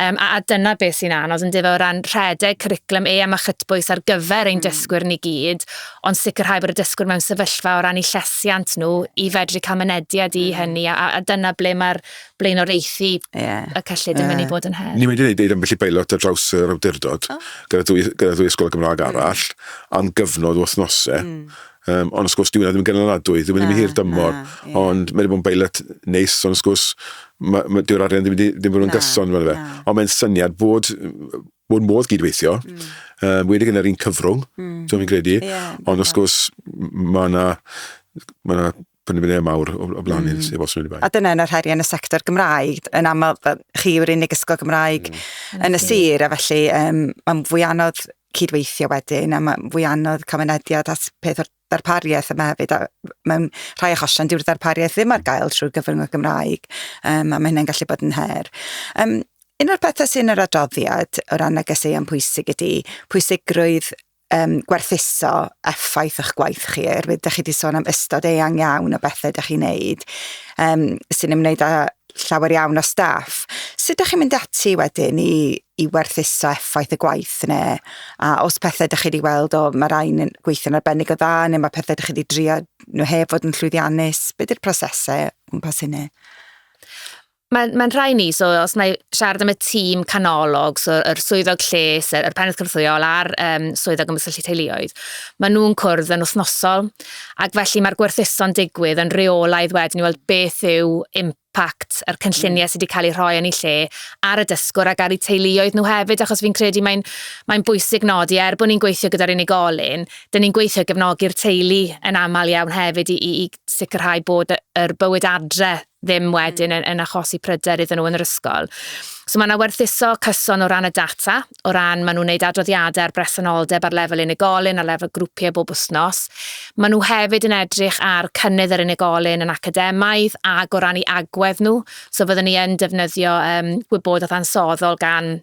B: Um, a, a dyna beth sy'n anodd yn difo o ran rhedeg curriculum e am a chytbwys ar gyfer ein mm. dysgwyr ni gyd, ond sicrhau bod y dysgwr mewn sefyllfa o ran eu llesiant nhw i fedru cael mynediad i mm. hynny, a, a dyna ble mae'r blaenoriaethu yeah. y cyllid yn mynd i bod yn her. Ni'n mynd i wneud ei ambell i beilot
C: ar draws yr awdurdod, oh. gyda, dwy, gyda dwy ysgol Gymraeg mm. arall, mm. am gyfnod o wythnosau. Mm. Um, ond wrth gwrs, dwi'n ddim yn gynaladwy, ddim yn hir dymor, na, yeah. ond mae'n bod yn beilot neis, ond wrth gwrs, dyw'r arian ddim wedi bod yn gyson fan fe. Ond mae'n syniad bod bod modd gydweithio, mm. uh, wedi gyda'r un cyfrwng, mm. dwi'n fi'n credu, yeah, ond wrth gwrs mae yna ma na penderfyniad mawr o, o blaen mm. sef os wedi bai. A dyna yn yr heriau yn y sector
A: Gymraeg, yn aml chi yw'r unig ysgol Gymraeg mm. yn y sir, a felly um, mae'n fwy anodd cydweithio wedyn, a mae'n fwy anodd cael mynediad at peth o'r darpariaeth yma hefyd, a mewn rhai achosion dyw'r darpariaeth ddim ar gael trwy gyfrwng y Gymraeg, um, a mae hynny'n gallu bod yn her. Um, un o'r pethau sy'n yr adroddiad o ran negeseuon pwysig ydy pwysigrwydd um, gwerthuso effaith o'ch gwaith chi, oherwydd ydych chi wedi sôn am ystod eang iawn o bethau ydych chi'n neud um, sy'n ymwneud â llawer iawn o staff. Sut ydych chi'n mynd ati wedyn i i werthuso effaith y gwaith yna. A os pethau ydych chi wedi weld, o, mae'r rhain yn gweithio'n arbennig o dda, neu mae pethau ydych chi wedi drio nhw heb fod yn llwyddiannus, be ydy'r prosesau gwmpas hynny?
B: Mae'n mae rhai ni, so os na i siarad am y tîm canolog, so yr swyddog lles, yr, yr pennaeth cynorthwyol a'r um, swyddog ymgysylltu teuluoedd, maen nhw'n cwrdd yn wythnosol, ac felly mae'r gwerthuso'n digwydd yn reolaidd wedyn i weld beth yw PACT a'r cynlluniau sydd wedi cael eu rhoi yn ei lle ar y dysgwr ac ar eu teuluoedd nhw hefyd achos fi'n credu mae'n mae'n bwysig nodi er bod ni'n gweithio gyda'r unigolyn, dyn ni'n gweithio i gefnogi'r teulu yn aml iawn hefyd i, i, i sicrhau bod yr bywyd adre ddim wedyn yn, yn achosi pryder iddyn nhw yn yr ysgol. So mae yna werthuso cyson o ran y data o ran maen nhw'n gwneud adroddiadau ar bresenoldeb ar lefel unigolyn, ar lefel grwpiau bob wythnos. Maen nhw hefyd yn edrych ar cynnydd yr unigolyn yn academaidd ac o ran ei agwedd nhw. So fyddwn ni yn defnyddio um, gwybodaeth ansoddol gan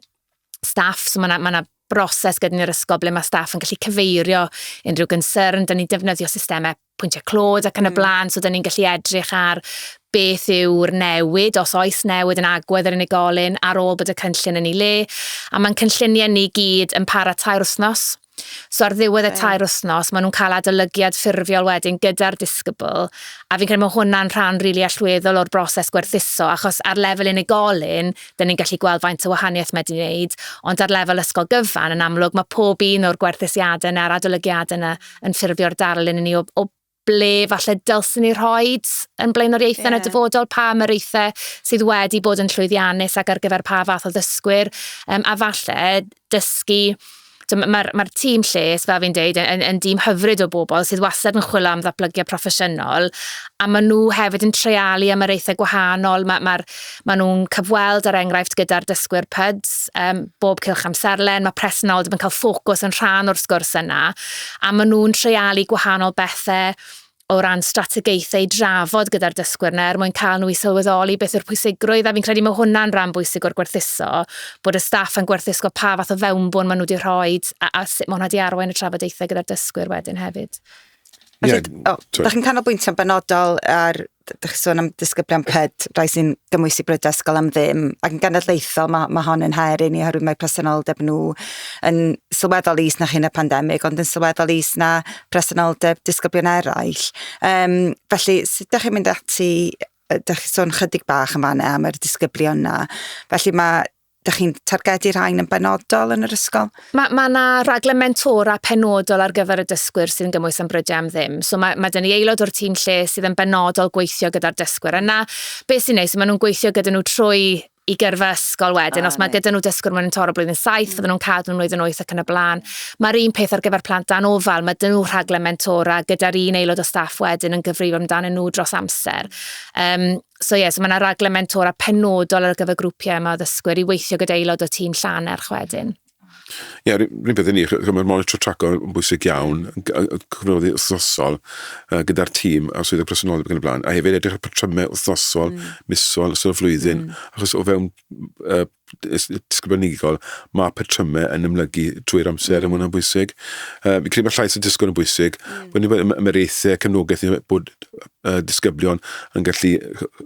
B: staff, so mae yna ma broses gyda ni'r ysgol ble mae staff yn gallu cyfeirio unrhyw gynsyrn. Dyna ni'n defnyddio systemau pwyntiau clod ac yn y mm. blaen, so dyn ni'n gallu edrych ar beth yw'r newid, os oes newid yn agwedd yr unigolyn ar ôl bod y cynllun yn ei le. A mae'n cynlluniau ni gyd yn para tair wythnos. So ar ddiwedd y tair wythnos, maen nhw'n cael adolygiad ffurfiol wedyn gyda'r disgybl. A fi'n credu mae hwnna'n rhan rili really allweddol o'r broses gwerthuso, achos ar lefel unigolyn, dyn ni'n gallu gweld faint o wahaniaeth mae wedi wneud, ond ar lefel ysgol gyfan, yn amlwg, mae pob un o'r gwerthusiadau yna, a'r adolygiadau yna, yn ffurfio'r darlun i ni o, o ble falle dylsyn ni rhoi yn blaenoriaethau yeah. yn y dyfodol, pa ymyraethau sydd wedi bod yn llwyddiannus ac ar gyfer pa fath o ddysgwyr, um, a falle dysgu Mae'r ma, ma tîm lles, fel fi'n deud, yn, yn dîm hyfryd o bobl sydd wastad yn chwilio am ddatblygiad proffesiynol, a maen nhw hefyd yn treialu am yr eithau gwahanol. Mae'r ma, Maen nhw'n cyfweld, er enghraifft, gyda'r dysgwyr PUDS um, bob cylch amserlen. Mae presenoldeb yn cael ffocws yn rhan o'r sgwrs yna. A maen nhw'n treialu gwahanol bethau o ran strategaethau i drafod gyda'r dysgwyr yna er mwyn cael nhw i sylweddoli beth yw'r pwysigrwydd a fi'n credu mae hwnna'n rhan bwysig o'r gwerthuso bod y staff yn gwerthuso pa fath o fewnbwn maen nhw wedi rhoi a, a sut mae hwnna wedi arwain y trafodaethau gyda'r dysgwyr wedyn hefyd. Felly, yeah, oh,
A: da chi'n canolbwyntio'n benodol ar dych chi sôn am disgyblion ped, rai sy'n gymwysi bryd ysgol am ddim, ac yn genedlaethol mae, mae hon yn her i ni oherwydd mae presenoldeb nhw yn sylweddol is na chyn y pandemig, ond yn sylweddol is na presenoldeb disgyblion eraill. Um, felly, sut ydych chi'n mynd ati, ydych chi'n sôn chydig bach yn fanna am yr disgyblion yna, felly mae Dych chi'n targedu rhain yn benodol yn yr ysgol? Mae yna ma raglen
B: mentora penodol ar gyfer y dysgwyr sy'n gymwys am brydiau am ddim. So mae, mae dyn ni aelod o'r tîm lle sydd yn benodol gweithio gyda'r dysgwyr yna. Beth sy'n neis, maen nhw'n gweithio gyda nhw trwy i gyrfa ysgol wedyn. Ah, Os mae gyda nhw dysgwyr mewn toro blwyddyn saith, mm. fydden nhw'n cadw nhw'n mlwyddyn oeth ac yn y blaen. Mae'r un peth ar gyfer plant dan ofal, mae dyn nhw rhaglen mentora gyda'r un aelod o staff wedyn yn gyfrifol amdanyn nhw dros amser. Um, so ie, yeah, so mae yna raglen mentora penodol ar gyfer grwpiau yma o ddysgwyr i weithio gyda aelod o tîm Llanerch wedyn. Ie, yeah,
C: rhywun beth i ni, mae'r monitor traco yn bwysig iawn, cyfnoddi wrthnosol uh, gyda'r tîm a swyddog presenoldeb ac yn y blaen, a hefyd edrych ar patrymau wrthnosol, mm. misol, ystod y flwyddyn, mm. achos o fewn uh, ysgrifenigol, mae patrymau yn ymlygu trwy'r amser, mm. a hwnna'n bwysig. Uh, fi'n credu bod llais y disgwyl yn bwysig. Mm. Wedyn bod ymwreithau, cefnogaeth ni bod uh, disgyblion yn gallu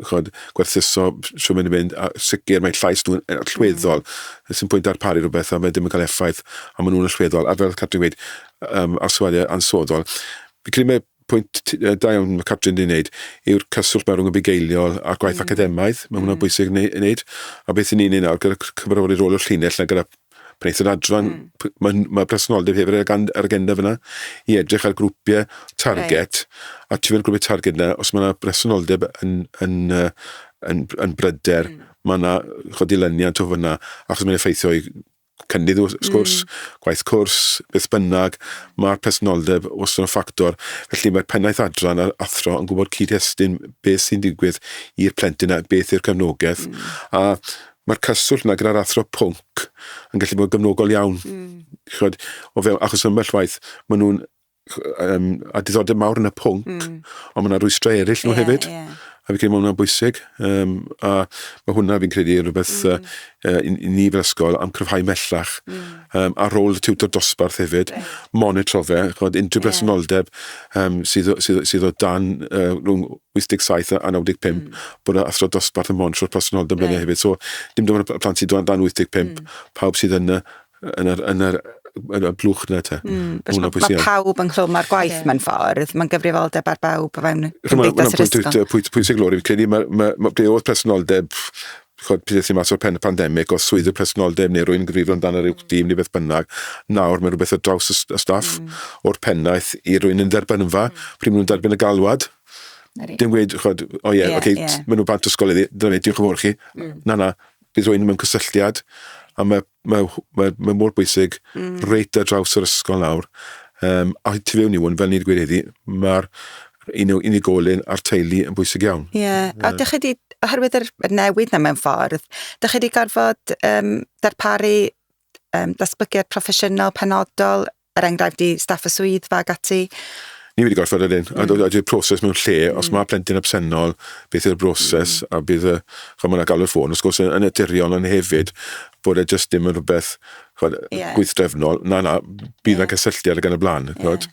C: chod, gwerthuso sy'n mynd i fynd, a sicr mae llais nhw'n allweddol. Mm. Sy'n pwynt darparu rhywbeth a mae ddim yn cael effaith, a maen nhw'n allweddol. A fel Catrin wedi, um, arswadiau ansoddol. Fi'n credu mae pwynt da iawn mae Catrin wedi wneud yw'r cyswllt mae rhwng y bugeiliol a'r gwaith mm. academaidd. Mae hwnna'n mm. bwysig i wneud. A beth ni'n ei nawr gyda cyfarfodydd rôl o'r llinell na gyda pwneith yr adran, mm. mae, mae presenoldeb hefyd ar, ar agenda fyna i edrych ar grwpiau target, right. a tu fewn grwpiau target yna, os mae yna presenoldeb yn, yn, yn, yn, yn bryder, mm. mae yna chodilyniant o fyna, achos mae'n effeithio i cynnydd wrth gwrs, mm. gwaith cwrs, beth bynnag, mae'r personoldeb wastad yn ffactor. Felly mae'r pennaeth adran a'r athro yn gwybod cyd-destun beth sy'n digwydd i'r plentyn a beth yw'r cefnogaeth. Mm. A mae'r cyswllt yna gyda'r athro pwnc yn gallu bod yn gyfnogol iawn. Mm. Chod, o fewn achos ymbell waith, maen nhw'n um, a diddordeb mawr yn y pwnc, mm. ond mae yna rwystrau eraill nhw yeah, hefyd. Yeah. A fi'n credu mae hwnna'n bwysig. Um, a mae hwnna fi'n credu rhywbeth mm. uh, i, i ni fel ysgol am cryfhau mellach. Mm. Um, ar ôl y tiwtor dosbarth hefyd, right. monitro fe, chod unrhyw yeah. bresenoldeb um, sydd, sydd, sydd o dan uh, rhwng 87 a 95, mm. bod athro dosbarth yn monitro'r presenoldeb right. hefyd. So, dim dim ond y plant sydd o dan 85, mm. pawb sydd yn y yn yr, yn yr, yn y blwch na te. Mm, mae ma, ma pawb
A: yn chlwm ar gwaith yeah. mewn ffordd, mae'n gyfrifoldeb ar bawb o fewn cymdeithas yr ysgol. Mae'n pwynt, pwynt sy'n glori, fi'n credu mae
C: ma, ma, ble oedd presenoldeb chod pryd sy'n mas o'r pen y pandemig, os swyddi presenoldeb neu rwy'n gyfrifol amdano rhyw mm. dîm neu beth bynnag, nawr mae rhywbeth o draws y staff mm. o'r pennaeth i rwy'n yn derbyn yn fa, mm. pryd maen nhw'n derbyn y galwad, Dim gweud, chod, o ie, yeah, yeah, okay, yeah. maen nhw bant ysgol iddi, dyna fe, diolch yn fawr chi. Mm. Na, na, Bydd rhywun mewn cysylltiad, a mae, mae, mae, mae mor bwysig mm. reit ar draws yr ysgol nawr, um, a tu fewn i hwn, fel ni wedi gweud heddi, mae'r unigolyn a'r teulu yn bwysig iawn. Ie, yeah. a ydych chi wedi,
A: oherwydd yr newid na mewn ffordd, ydych chi wedi gorfod um, darparu um, datblygiad proffesiynol penodol er enghraifft i staff y swyddfa ac ati. Ni wedi gorfod
C: yr hyn, a dod i'r proses mewn lle, os mae plentyn absennol, beth yw'r broses, a bydd, chod, mae'n galw'r ffôn, wrth gwrs, yn naturiol, ond hefyd, bod e jyst ddim yn rhywbeth, chod, gweithdrefnol, na, na, bydd yna cysylltiad ac yn y blaen, chod,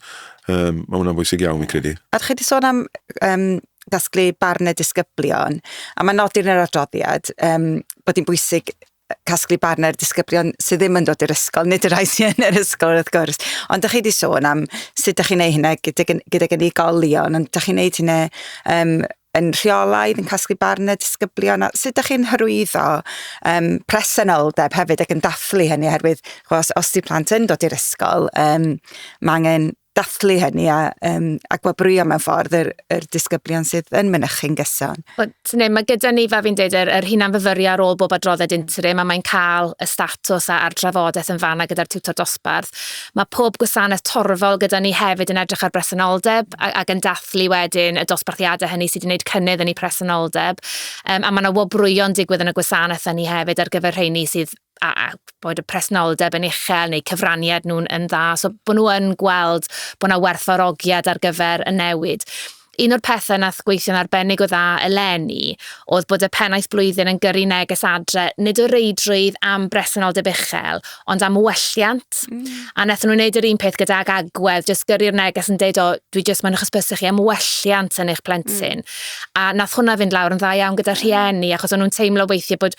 C: um, mae hwnna'n bwysig iawn, fi'n credu. A chi wedi sôn am
A: um, gasglu barn y disgyblion, a mae nodir yn yr adroddiad um, bod hi'n bwysig casglu barn ar disgyblion sydd ddim yn dod i'r ysgol, nid y rhai sydd yn yr ysgol wrth gwrs. Ond ydych chi wedi sôn am sut ydych chi'n ei hynna gydag, gydag unigolion, ond ydych chi'n ei hynna um, yn rheolaidd, yn casglu barn y disgyblion, a sut ydych chi'n hyrwyddo um, presenoldeb hefyd ac yn dathlu hynny, oherwydd os, os di plant yn dod i'r ysgol, um, mae angen dathlu hynny a, um, a gwabrwyo mewn ffordd yr, yr disgyblion sydd yn mynychu'n gyson. Ne, mae gyda
B: ni, fe fi'n dweud, yr, yr hunan fyfyrio ar ôl bob adrodded interim a mae'n cael y statws a'r drafodaeth yn fanna gyda'r tiwtor dosbarth. Mae pob gwasanaeth torfol gyda ni hefyd yn edrych ar bresenoldeb ac yn dathlu wedyn y dosbarthiadau hynny sydd wedi gwneud cynnydd yn ei presenoldeb. Um, a mae yna wobrwyo'n digwydd yn y gwasanaeth hynny hefyd ar gyfer rheini sydd a, a bod y presnoldeb yn uchel neu cyfraniad nhw'n yn dda, so bod nhw yn gweld bod yna werthfawrogiad ar gyfer y newid. Un o'r pethau nath gweithio'n arbennig o dda eleni oedd bod y pennaeth blwyddyn yn gyrru neges adre, nid o reidrwydd am bresenoldeb uchel, ond am welliant. Mm. A wnaethon nhw'n gwneud yr un peth gyda'r agwedd, jyst gyrru'r neges yn dweud, o, dwi jyst mae'n hysbysu chi am welliant yn eich plentyn. Mm. A nath hwnna fynd lawr yn dda iawn gyda rhieni, achos o'n nhw'n teimlo weithiau bod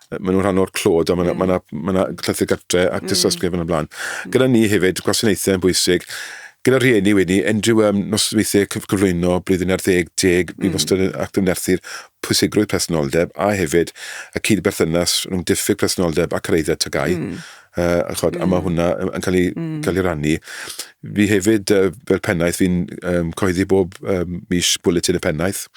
C: maen nhw'n rhan o'r clod, a mae yna mm. ma ma llythyr gartre a tystysgrif mm. yn y blaen. Mm. Gyda ni hefyd, gwasanaethau yn bwysig, gyda rhieni wedi, unrhyw um, nosweithiau cyflwyno blwyddyn ar ddeg deg, bydd mm. wastad yn ac ymnerthu'r pwysigrwydd presenoldeb a hefyd y cyd-berthynas rhwng diffyg presenoldeb a cyreiddau tygau. Mm. Uh, a, chod, mm. a mae hwnna yn cael ei, mm. cael ei rannu. Fi hefyd, uh, fel pennaeth, fi'n um, coeddi bob um, mis bwletin y pennaeth,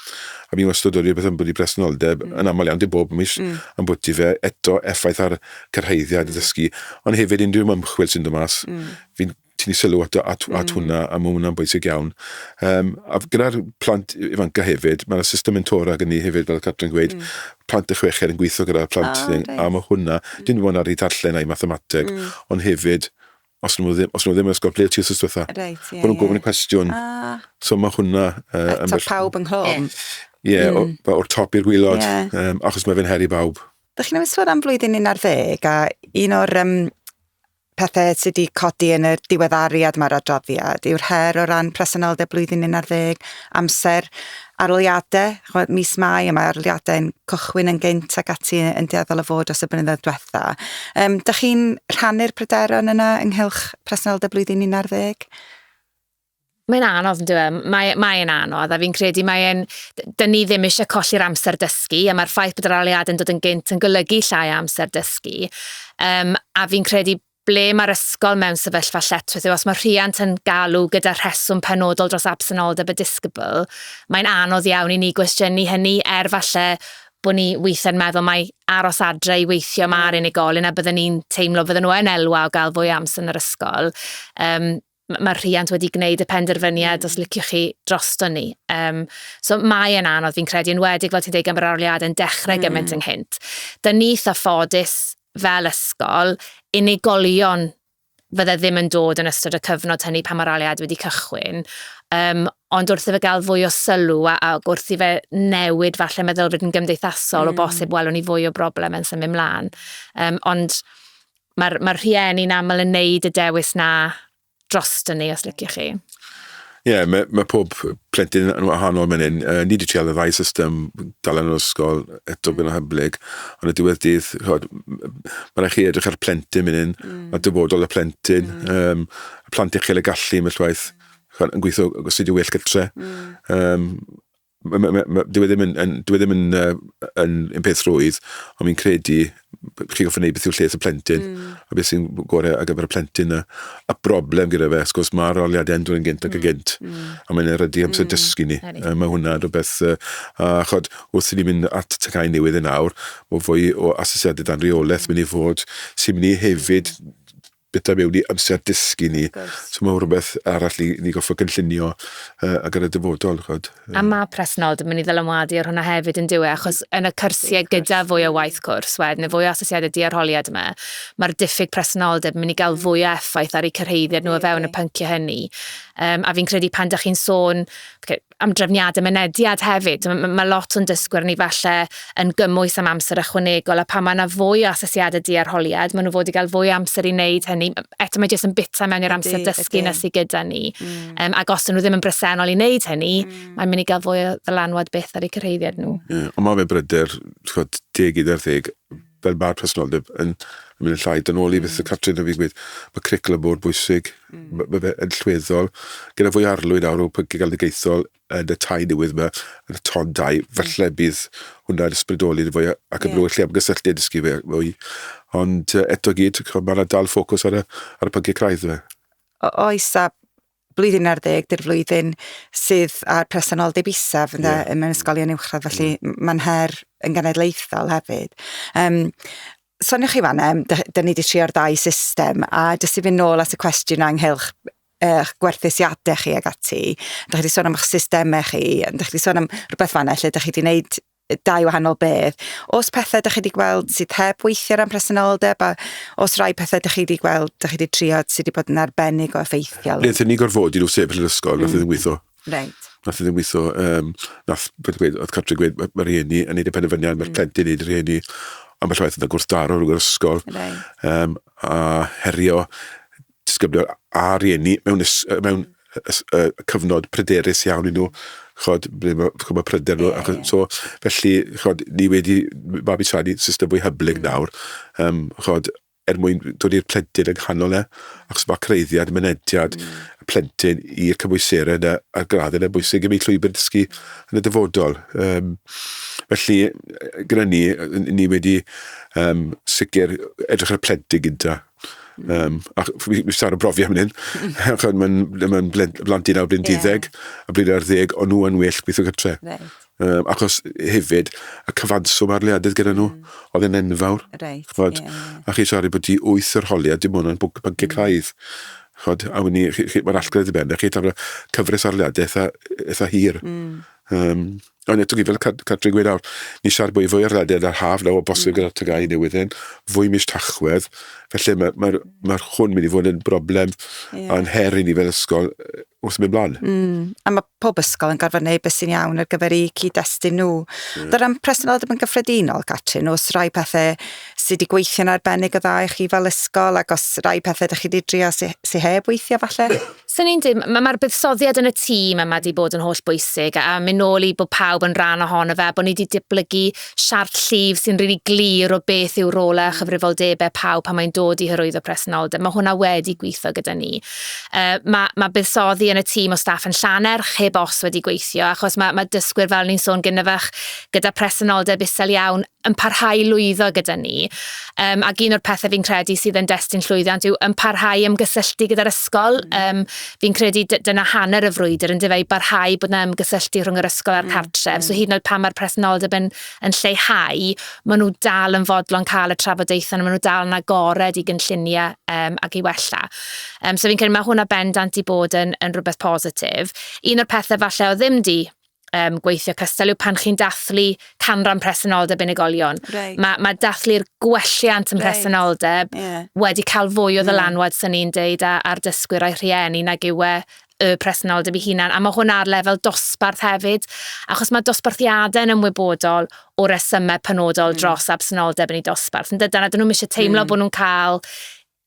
C: a fi'n wastad wedi beth yn bod i bresenoldeb, mm. yn aml iawn dim bob mis, mm. am bod i fe eto effaith ar cyrhaeddiad mm. y dysgu, ond hefyd unrhyw ymchwil sy'n dod mas, mm. fi'n ti wedi sylw at, at, mm. at hwnna, a mae hwnna'n bwysig iawn. Um, a gyda'r plant ifanca hefyd, mae'r system mentora gen i hefyd, fel y Catrin gweud, mm. plant y chwecher yn gweithio gyda'r plant, oh, nice. a mae hwnna, mm. dyn nhw'n ar ei darllen a'i mathemateg, mm. ond hefyd, os nhw ddim, os nhw ddim yn ysgol, ble ti os ysgol dda? Right, yeah, Bod nhw'n gofyn y cwestiwn. Ah. So mae hwnna... Uh, Eto pawb yng
A: Nghrom. Ie, yeah, mm.
C: o'r top i'r gwylod, yeah. um, achos mae fe'n heri bawb. Dych chi'n ymwneud sôn am
A: flwyddyn un ar ddeg, a un o'r um, pethau sy' 'di codi yn y diweddariad mae'r adroddiad yw'r her o ran presenoldeb blwyddyn un ar ddeg, amser aroliadau, chwbod, mis Mai y mae aroliadau'n cychwyn yn gynt ac ati yn dueddol o fod dros y blynyddoedd diwetha. Um, da chi'n rhannu'r pryderon yna ynghylch presenoldeb blwyddyn un ar ddeg?
B: Mae'n anodd yn dyw e? Mae, mae e'n anodd a fi'n credu mae e'n... Dyn ni ddim eisiau colli'r amser dysgu a mae'r ffaith bod yr aleuadau'n dod yn gynt yn golygu llai amser dysgu. Um, a fi'n credu ble mae'r ysgol mewn sefyllfa lletchwith yw os mae rhiant yn galw gyda rheswm penodol dros absenoldeb y disgybl, mae'n anodd iawn i ni gwestiynu hynny er falle bod ni weithiau'n meddwl mae aros adre i weithio mm. mae'r unigolyn a byddwn ni'n teimlo fydden nhw yn elwa o gael fwy amser yn yr ysgol. Um, m- mae'r rhiant wedi gwneud y penderfyniad os liciwch chi drosto ni. Um, so mae e'n anodd, fi'n credu, yn wedig fel ti'n dweud gan yr arliad yn dechrau mm. gymaint ynghynt. Da ni eitha ffodus fel ysgol, unigolion fydde ddim yn dod yn ystod y cyfnod hynny pan mae'r aliad wedi cychwyn. Um, ond wrth i fe gael fwy o sylw a, a wrth i fe newid falle meddylfryd yn gymdeithasol mm. o bosib welwn ni fwy o broblem yn symud mlaen. Um, ond Mae'r mae rhieni'n aml yn neud y dewis na droston ni, os liciwch chi. Ie, yeah, mae,
C: mae pob plentyn yn wahanol mynd hyn. Uh, ni wedi trial y ddau system, dal yn yr ysgol, eto mm. gyda hyblyg, ond y diwedd dydd, chod, mae'n rhaid chi edrych ar plentyn mynd hyn, mm. a dyfodol y plentyn, mm. um, y plant uchel y gallu, mae'n llwaith, chod, yn gweithio os ydy'n well gytre. Mm. Um, Dyw e ddim yn, yn, dyw e ddim yn, uh, yn, yn peth rwydd, ond fi'n credu chi'n goffa wneud beth yw'r lles y plentyn, mm. a beth sy'n gorau ar gyfer y plentyn. A, a broblem gyda fe, sgwrs, mae'r roliadau yn dod gynt ac yn mm. gynt, mm. a mae'n erydu amser mm. dysgu ni. Uh, mae hwnna rhywbeth, uh, a chod, wrth i ni mynd at y cael newydd yn awr, mae fwy o asesiadau dan reolaeth mynd i fod sy'n mynd i hefyd bwyta mewn i amser dysgu ni. So mae rhywbeth arall ni, ni goffo gynllunio uh, ag ar y dyfodol, chod. Um. A mae
B: presnol, dwi'n mynd i ddylanwadu ar hwnna hefyd yn dywe, achos yn y cyrsiau gyda fwy o waith cwrs wed, neu fwy o asesiadau diarholiad yma, mae'r diffyg presnoldeb yn mynd i gael fwy o effaith ar eu cyrheiddiad nhw o fewn y pynciau hynny. Um, a fi'n credu pan da chi'n sôn, okay, am drefniadau mynediad hefyd. Mae ma lot o'n dysgwyr ni falle yn gymwys am amser ychwanegol a pan mae yna fwy o asesiadau diarholiad, maen nhw fod i gael fwy o amser i wneud hynny. Eto mae jyst yn bita mewn i'r amser dysgu na sydd gyda ni. Mm. Um, ac os nhw ddim yn bresennol i wneud hynny, mm. mae'n mynd i gael fwy o ddylanwad beth ar eu cyrhaeddiad nhw. Yeah, ond mae fe bryder,
C: chod, deg i'r ddeg, fel mae'r presenoldeb yn mynd yn llai. Dyn ôl i beth y Catrin yn fi'n gweud, mae cwricwlwm bod bwysig, mm. mae, mae fe yn llweddol. Gyda fwy arlwyd nawr o pynciau galwedigaethol yn y tai newydd yma, yn y ton dau, mm. falle bydd hwnna'n ysbrydoli yn fwy ac yn yeah. lle am gysylltu a dysgu fe fwy. Ond eto gyd, mae yna dal ffocws ar y, ar y pynciau craidd yma. Oes, a
A: blwyddyn ar ddeg, dy'r flwyddyn sydd â'r presenoldeb isaf ynde, yeah. mewn ysgolion uwchradd, felly yeah. mae'n her yn genedlaethol hefyd. Um, soniwch chi fan em, da ni wedi trio'r ddau system, a jyst i fynd nôl at y cwestiwn anghelch eich gwerthusiadau chi ag ati, da chi wedi sôn am eich systemau chi, da chi wedi sôn am rhywbeth fanna lle da chi wedi gwneud dau wahanol beth. Os pethe 'dych chi 'di gweld sydd heb weithio ran presenoldeb, a os rai pethe 'dych chi 'di gweld, 'dych chi 'di trio sydd 'di bod yn arbennig o effeithiol? Nethon ni gorfodi nhw
C: sefyll yn ysgol, nath e ddim weitho. Reit. Nath e ddim weitho, um, nath bod gweud, oedd cartre gweud, mae ma rhieni yn neud y penderfyniad, mae'r mm. plentyn yn neud y rhieni, a mae llwaith yn gwrthdaro rhwng yr ysgol, right. um, a herio disgyblion a rhieni mewn, ys, mewn ys, uh, cyfnod pryderus iawn i nhw, chod, ble mae, chod, mae pryder nhw, yeah. so, felly, chod, ni wedi babi siarad i system fwy hyblyg mm. nawr, um, chod, er mwyn dod i'r plentyn yng nghanol e, ac mae creiddiad, mynediad mm. y plentyn i'r cymwyserau yna, a'r graddau yna bwysig i mi llwybr dysgu yn y dyfodol. Um, felly, gyda ni, ni wedi um, sicr edrych ar y plentyn gyda, Um, a fi, fi sar o brofi am hyn, achos mae'n ma blantu nawr blin diddeg, yeah. a blin ar ddeg, ond nhw yn well gweithio gytre. Right. Um, achos hefyd, y cyfanswm ar leadydd gyda nhw, mm. oedd yn enfawr. Right, chod, yeah, yeah. A chi siarad bod ti wyth yr holiad, dim ond yn bwnc bynciau mm. craidd. Chod, a wni, mae'r allgredd i ben, a chi tafla cyfres ar leadydd eitha, eitha hir. Mm. Um, Ond eto, fel Catrin gweud nawr, ni siarad bwy fwy ar ddadedd ar haf nawr o bosib gyda'r tygau newydd hyn, fwy mis tachwedd, felly mae'r ma, r, ma hwn mynd i fod yn broblem yeah. a'n her i ni fel ysgol wrth mynd blaen. Mm. A mae pob
A: ysgol yn gorfod gwneud beth sy'n iawn ar gyfer eu cyd-destun nhw. Yeah. Dy'r am presenoldeb yn gyffredinol, Catrin, os rai pethau sydd wedi gweithio'n arbennig o dda i chi fel ysgol, ac os rai pethau ydych chi wedi drio sy'n sy heb weithio falle? Swn i'n dweud, ma'
B: ma'r buddsoddiad yn y tîm yma 'di bod yn holl bwysig a a myn' nôl i bod pawb yn rhan ohono fe a bo' ni 'di diblygu siart llif sy'n rili glir o beth yw rôle a chyfrifoldebe pawb pan mae'n dod i hyrwyddo presenoldeb. Ma' hwnna wedi gwitho gyda ni. Yy ma' ma' buddsoddi yn y tîm o staff yn Llanerch heb os wedi gweithio achos ma' ma' dysgwyr fel o'n i'n sôn gynne fach gyda presenoldeb isel iawn yn parhau i lwyddo gyda ni. Um, ac un o'r pethau fi'n credu sydd yn destun llwyddiant yw yn parhau ymgysylltu gyda'r ysgol. Um, fi'n credu dyna hanner y frwydr yn difau barhau bod yna ymgysylltu rhwng yr ysgol a'r mm, cartref. Mm. So hyd yn oed pan mae'r presenoldeb yn, yn lleihau, maen nhw dal yn fodlon cael y trafodaethau, maen nhw dal yn agored i gynlluniau um, ac i wella. Um, so fi'n credu mae hwnna bendant i bod yn, yn rhywbeth positif. Un o'r pethau falle o ddim di um, gweithio cystal yw pan chi'n dathlu canran presenoldeb unigolion. Right. Mae ma dathlu'r gwelliant yn right. presenoldeb yeah. wedi cael fwy o ddylanwad, yeah. sy'n ni'n deud, ar dysgwyr a'i rhieni nag yw e y presenoldeb i hunan, a mae hwn ar lefel dosbarth hefyd, achos mae dosbarthiadau yn ymwybodol o resymau penodol mm. dros absenoldeb yn ei dosbarth. Yn dydan, a dyn nhw'n eisiau teimlo mm. bod nhw'n cael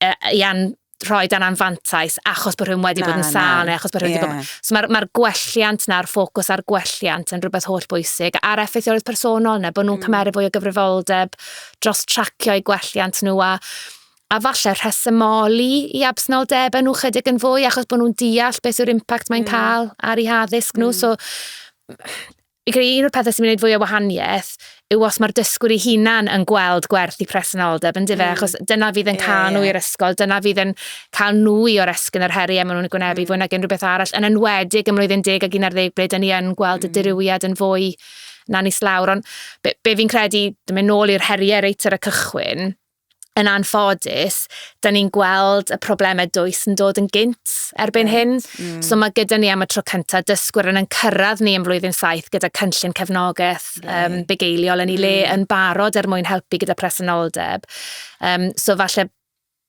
B: e, i an, rhoi dan anfantais achos bod rhywun wedi na, bod yn sal neu achos bod rhywun yeah. wedi bod... So mae'r ma gwelliant na'r ffocws ar gwelliant yn rhywbeth holl bwysig a'r effeithiolrwydd personol neu bod nhw'n mm. cymeryd fwy o gyfrifoldeb dros tracio i gwelliant nhw a a falle rhesymoli i absnoldeb nhw chydig yn fwy achos bod nhw'n deall beth yw'r impact mae'n mm. cael ar ei haddysg nhw. Mm. So, Fi'n credu un o'r pethe sy'n gwneud fwy o wahaniaeth yw os mae'r dysgwr ei hunan yn gweld gwerth i presenoldeb, yn dyfe? Mm. Achos dyna fydd yn cael nhw i'r ysgol, dyna fydd yn cael nhw i o'r esgyn yr heriau maen nhw'n gwynebu mm. fwy nag unrhyw beth arall, yn enwedig ym mlwyddyn deg ag un ar ddeg ble dyn ni yn gweld mm. y dirywiad yn fwy na ni slawr. Ond be, be fi'n credu, dyma'n nôl i'r heriau reit ar y cychwyn, yn anffodus, da ni'n gweld y problemau dwys yn dod yn gynt erbyn hyn. Mm. So mae gyda ni am y tro cyntaf dysgwyr yn yn cyrraedd ni yn flwyddyn saith gyda cynllun cefnogaeth yeah. um, bugeiliol yn ei le mm. yn barod er mwyn helpu gyda presenoldeb. Um, so falle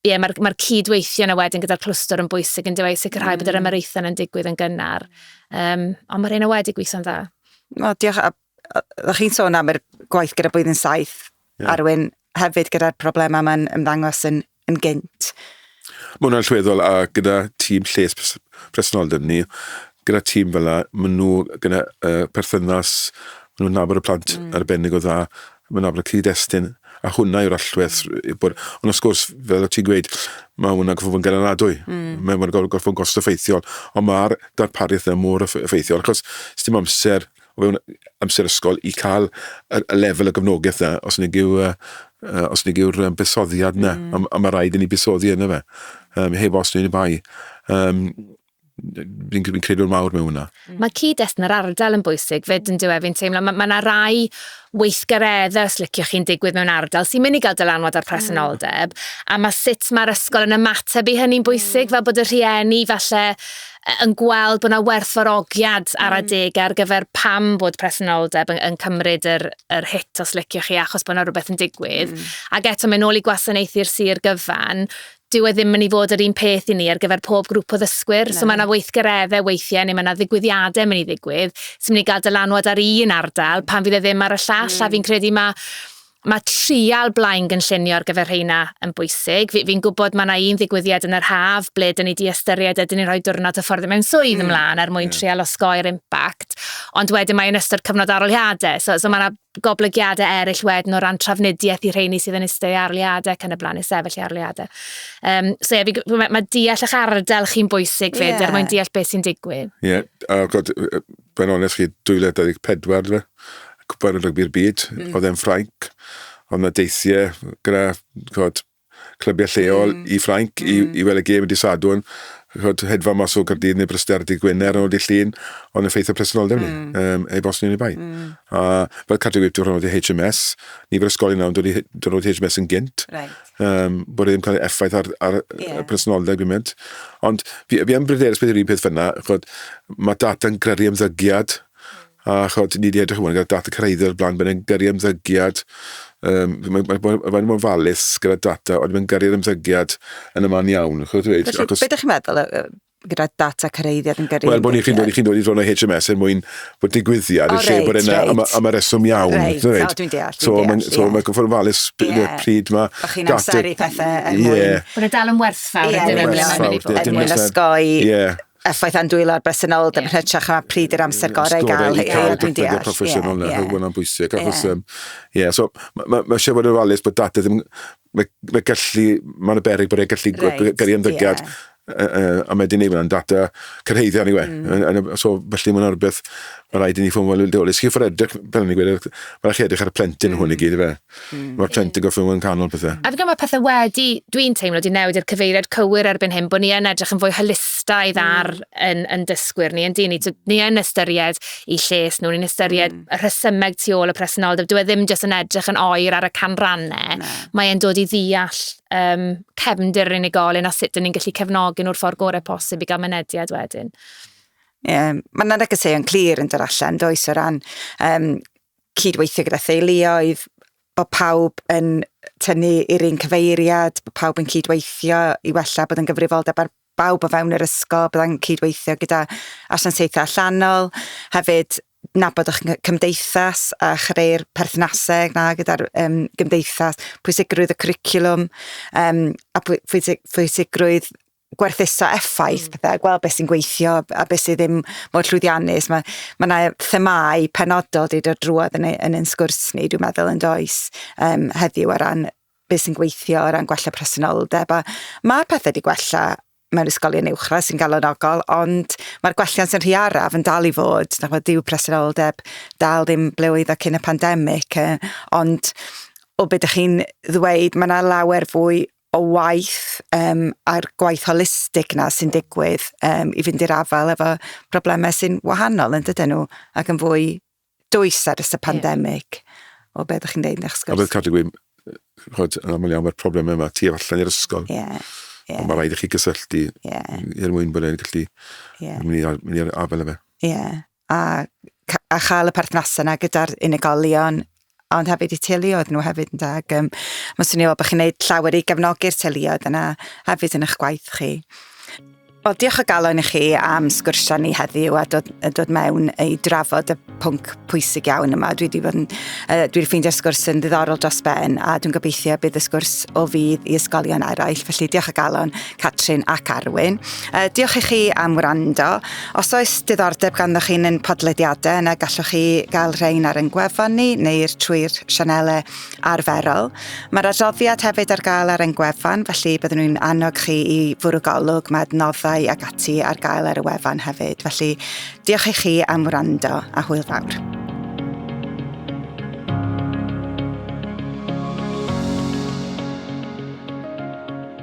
B: ie, mae'r mae cydweithio yna wedyn gyda'r clwstwr yn bwysig yn dweud sicrhau mm. bod yr mm. ymyraethau yn digwydd yn gynnar. Um, ond mae'r un o wedi gweithio'n dda. No, diolch. A
A: O'ch chi'n sôn am yr gwaith gyda blwyddyn saith, yeah. Arwyn, hefyd gyda'r problemau mae'n ymddangos yn, yn gynt. Mae hwnna'n
C: llweddol a gyda tîm lles presenoldeb ni, gyda tîm fel yna, maen nhw gyda uh, perthynas, maen nhw'n nabod y plant mm. arbennig o dda, maen nhw'n nabod y cyd-destun, a hwnna yw'r allwedd. Bod, ond os gwrs, fel o ti'n gweud, mae hwnna'n gorfod bod yn ganadadwy. Mm. Mae'n gorfod bod yn gost effeithiol. Ond mae'r darpariaeth yna mor effeithiol, achos sy'n amser o fewn amser ysgol i cael y, y lefel y gyfnogaeth na, os nig yw, uh, uh, os nig yw'r um, busoddiad na, mm. a, a mae rhaid i ni busoddi yna fe, um, heb os ni'n bai. Um, fi'n fi credu'n mawr mewn hwnna. Mm. Mae cyd-destun yr
B: ardal yn bwysig fyd yn diwedd fi'n teimlo. Mae yna ma rai weithgareddau, os licio chi'n digwydd mewn ardal, sy'n mynd i gael dylanwad ar presenoldeb, mm. a mae sut mae'r ysgol yn ymateb i hynny'n bwysig, mm. fel bod y rhieni falle yn gweld bod yna werthfawrogiad ar mm. adeg ar gyfer pam bod presenoldeb yn, yn cymryd yr, yr hit os liciwch chi achos bod yna rhywbeth yn digwydd. Mm. Ac eto mae'n ôl i gwasanaethu'r sir gyfan, dyw e ddim yn ei fod yr un peth i ni ar gyfer pob grŵp o ddysgwyr. No. So mae yna weithgareddau weithiau neu mae yna ddigwyddiadau mynd i ddigwydd sy'n mynd i gael dylanwad ar un ardal pan fydd e ddim ar y llall. Mm. A fi'n credu mae Mae trial blaen gynllunio ar gyfer rheina yn bwysig. Fi, fi'n gwybod mae yna un ddigwyddiad yn yr haf ble dyn ni di ystyried ydyn ni'n rhoi diwrnod hyfforddi mewn swydd mm. ymlaen er mwyn yeah. trial osgoi'r impact. Ond wedyn mae yn ystod cyfnod aroliadau. So, so mae yna goblygiadau eraill wedyn o ran trafnidiaeth i rheini sydd yn eistedd arliadau ac yn y blaen, i sefyll i arliadau. Um, so ie, yeah, mae, mae deall eich ardal chi'n bwysig fyd yeah. er mwyn deall beth sy'n digwydd. Ie, yeah. oh, god,
C: Fe'n onest chi, 2024 dwi, cwpan y rygbi'r byd, mm. oedd e'n Ffrainc, ond na deithiau gyda chod, clybiau lleol mm. i Ffrainc mm. i, i weld y gêm y disadwn, chod, hedfa mas o Gardydd neu Bryster dydd Gwener yn ôl di llun, ond yn ffeithio presenoldeb ni, mm. um, ei bos ni'n ei bai. Mm. A fel Cadw Wyp, dwi'n rhan o'r HMS, ni fel ysgolion nawr, dwi'n rhan o'r HMS yn gynt, right. um, bod e'n cael ei effaith ar, ar yeah. personoldeb gymaint. Ond fi, fi am bryderus beth yw'r un peth fyna, chod, mae data'n gyrru ymddygiad, a chod, ni wedi edrych hwn, gyda data cyrraeddo o'r blaen, byddai'n gyrru ymddygiad, um, mae'n ma, ma, ma, ma falus gyda data, ond mae'n gyrru'r ymddygiad yn y man iawn. Chod, dweud, Felly, achos... beth ydych chi'n
A: meddwl, gyda data cyreiddiad yn gyrru... Wel, bod ni'n chi'n dod, chi'n dod i ddod o
C: HMS er mwyn bod digwyddiad, yn lle bod yna, am y reswm iawn. Reit, o, dwi'n deall, dwi'n deall.
A: So, mae'n gwybod
C: yn falus pryd mae... Bo chi'n amseru pethau er mwyn...
A: Bod y dal yn werthfawr
B: yn dyn nhw.
A: Er mwyn ysgoi effaith andwylo ar bresennol, yn hytrach na pryd i'r amser gorau i gael. Ie, dwi'n deall. Ie, proffesiynol
C: na, hwnna'n bwysig. Achos, ie, so, mae eisiau bod yn falus bod data ddim... Mae mae gallu... Mae 'na beryg bod e'n gallu... Reit, ie. ...peri ymddygiad, yy yy a mae 'di neud hwnna'n data cyrhaeddiad ni we. Yn yn y... So, felly ma' 'na rwbeth ma' raid i ni fod yn wyliadwrus. Chi orfod edrych, fel o'n i'n gweud, ma' rai' chi edrych ar y plentyn hwn i gyd yfe? Ma'r plentyn gorffo fod yn canol pethe. A fi'n credu ma' pethe wedi,
B: dwi'n teimlo, 'di newid i'r cyfeiriad cywir erbyn hyn, bo' ni yn edrych yn fwy holistaidd ar 'yn 'yn dysgwyr ni, yndyn ni? T'od, ni yn ystyried 'u lles nw, ni'n ystyried y rhesymeg tu ôl y presenoldeb. Dwi e ddim jyst yn edrych yn oer ar y canrannau. No. Mae e'n dod i ddeall um, cefndir yr unigolyn a sut dyn ni'n gallu cefnogi nhw'r ffordd gorau posib i gael mynediad wedyn. Yeah.
A: Mae yna negeseuon clir yn dod allan, does, o ran um, cydweithio gyda theuluoedd, bod pawb yn tynnu i'r un cyfeiriad, bod pawb yn cydweithio i wella bod yn gyfrifoldeb ar bawb o fewn yr ysgol, byddai'n cydweithio gyda asiantaethau allanol, hefyd nabod o'ch cymdeithas a chreu'r perthnasau na gyda'r um, gymdeithas, pwysigrwydd y cwricwlwm um, a pwysig, pwysigrwydd gwerthuso effaith mm. pethau, gweld beth sy'n gweithio a beth sydd ddim mor llwyddiannus. Mae yna ma themau penodol wedi dod drwodd yn, yn ein sgwrs ni, dwi'n meddwl, yn does um, heddiw ar ran beth sy'n gweithio o ran gwella presenoldeb a mae'r pethau wedi gwella mewn ysgolion uwchradd sy'n galonogol ond mae'r gwelliant yn rhy araf yn dal i fod na fod dyw presenoldeb dal ddim ble oedd o cyn y pandemig e, ond o beth ydych chi'n ddweud mae yna lawer fwy o waith um, a'r gwaith holistig na sy'n digwydd um, i fynd i'r afael efo problemau sy'n wahanol yn dydyn nhw ac yn fwy dwys ar ys y pandemig, o beth ydych chi'n dweud yn sgwrs. A bydd cadw gwyn,
C: chod, yn aml iawn mae'r problemau yma tu allan i'r ysgol. Yeah. Yeah. Mae rhaid i chi gysylltu yeah. er mwyn bod e'n gallu yeah. mynd i'r afel efe. Ie. Yeah.
A: A, a chael y perthnasau yna gyda'r unigolion ond hefyd i teuluoedd nhw hefyd ynde ac um, mae'n swnio fel bod chi'n gwneud llawer i gefnogi'r teuluoedd yna hefyd yn eich gwaith chi. Wel, diolch o galon i chi am sgwrsio ni heddiw a dod, a dod mewn i drafod y pwnc pwysig iawn yma. Dwi wedi bod yn, uh, dwi wedi ffeindio'r sgwrs yn ddiddorol dros ben a dwi'n gobeithio bydd y sgwrs o fydd i ysgolion eraill. Felly diolch o galon Catrin ac Arwyn. Uh, diolch i chi am wrando. Os oes diddordeb ganddoch chi'n yn podlediadau yna gallwch chi gael rhain ar yn gwefan ni neu'r trwy'r sianelau arferol. Mae'r adroddiad hefyd ar gael ar ein gwefan, felly byddwn nhw'n annog chi i fwrw golwg, mae adnoddau ag ati ar gael ar y wefan hefyd. Felly diolch i chi am wrando a hwyl fawr.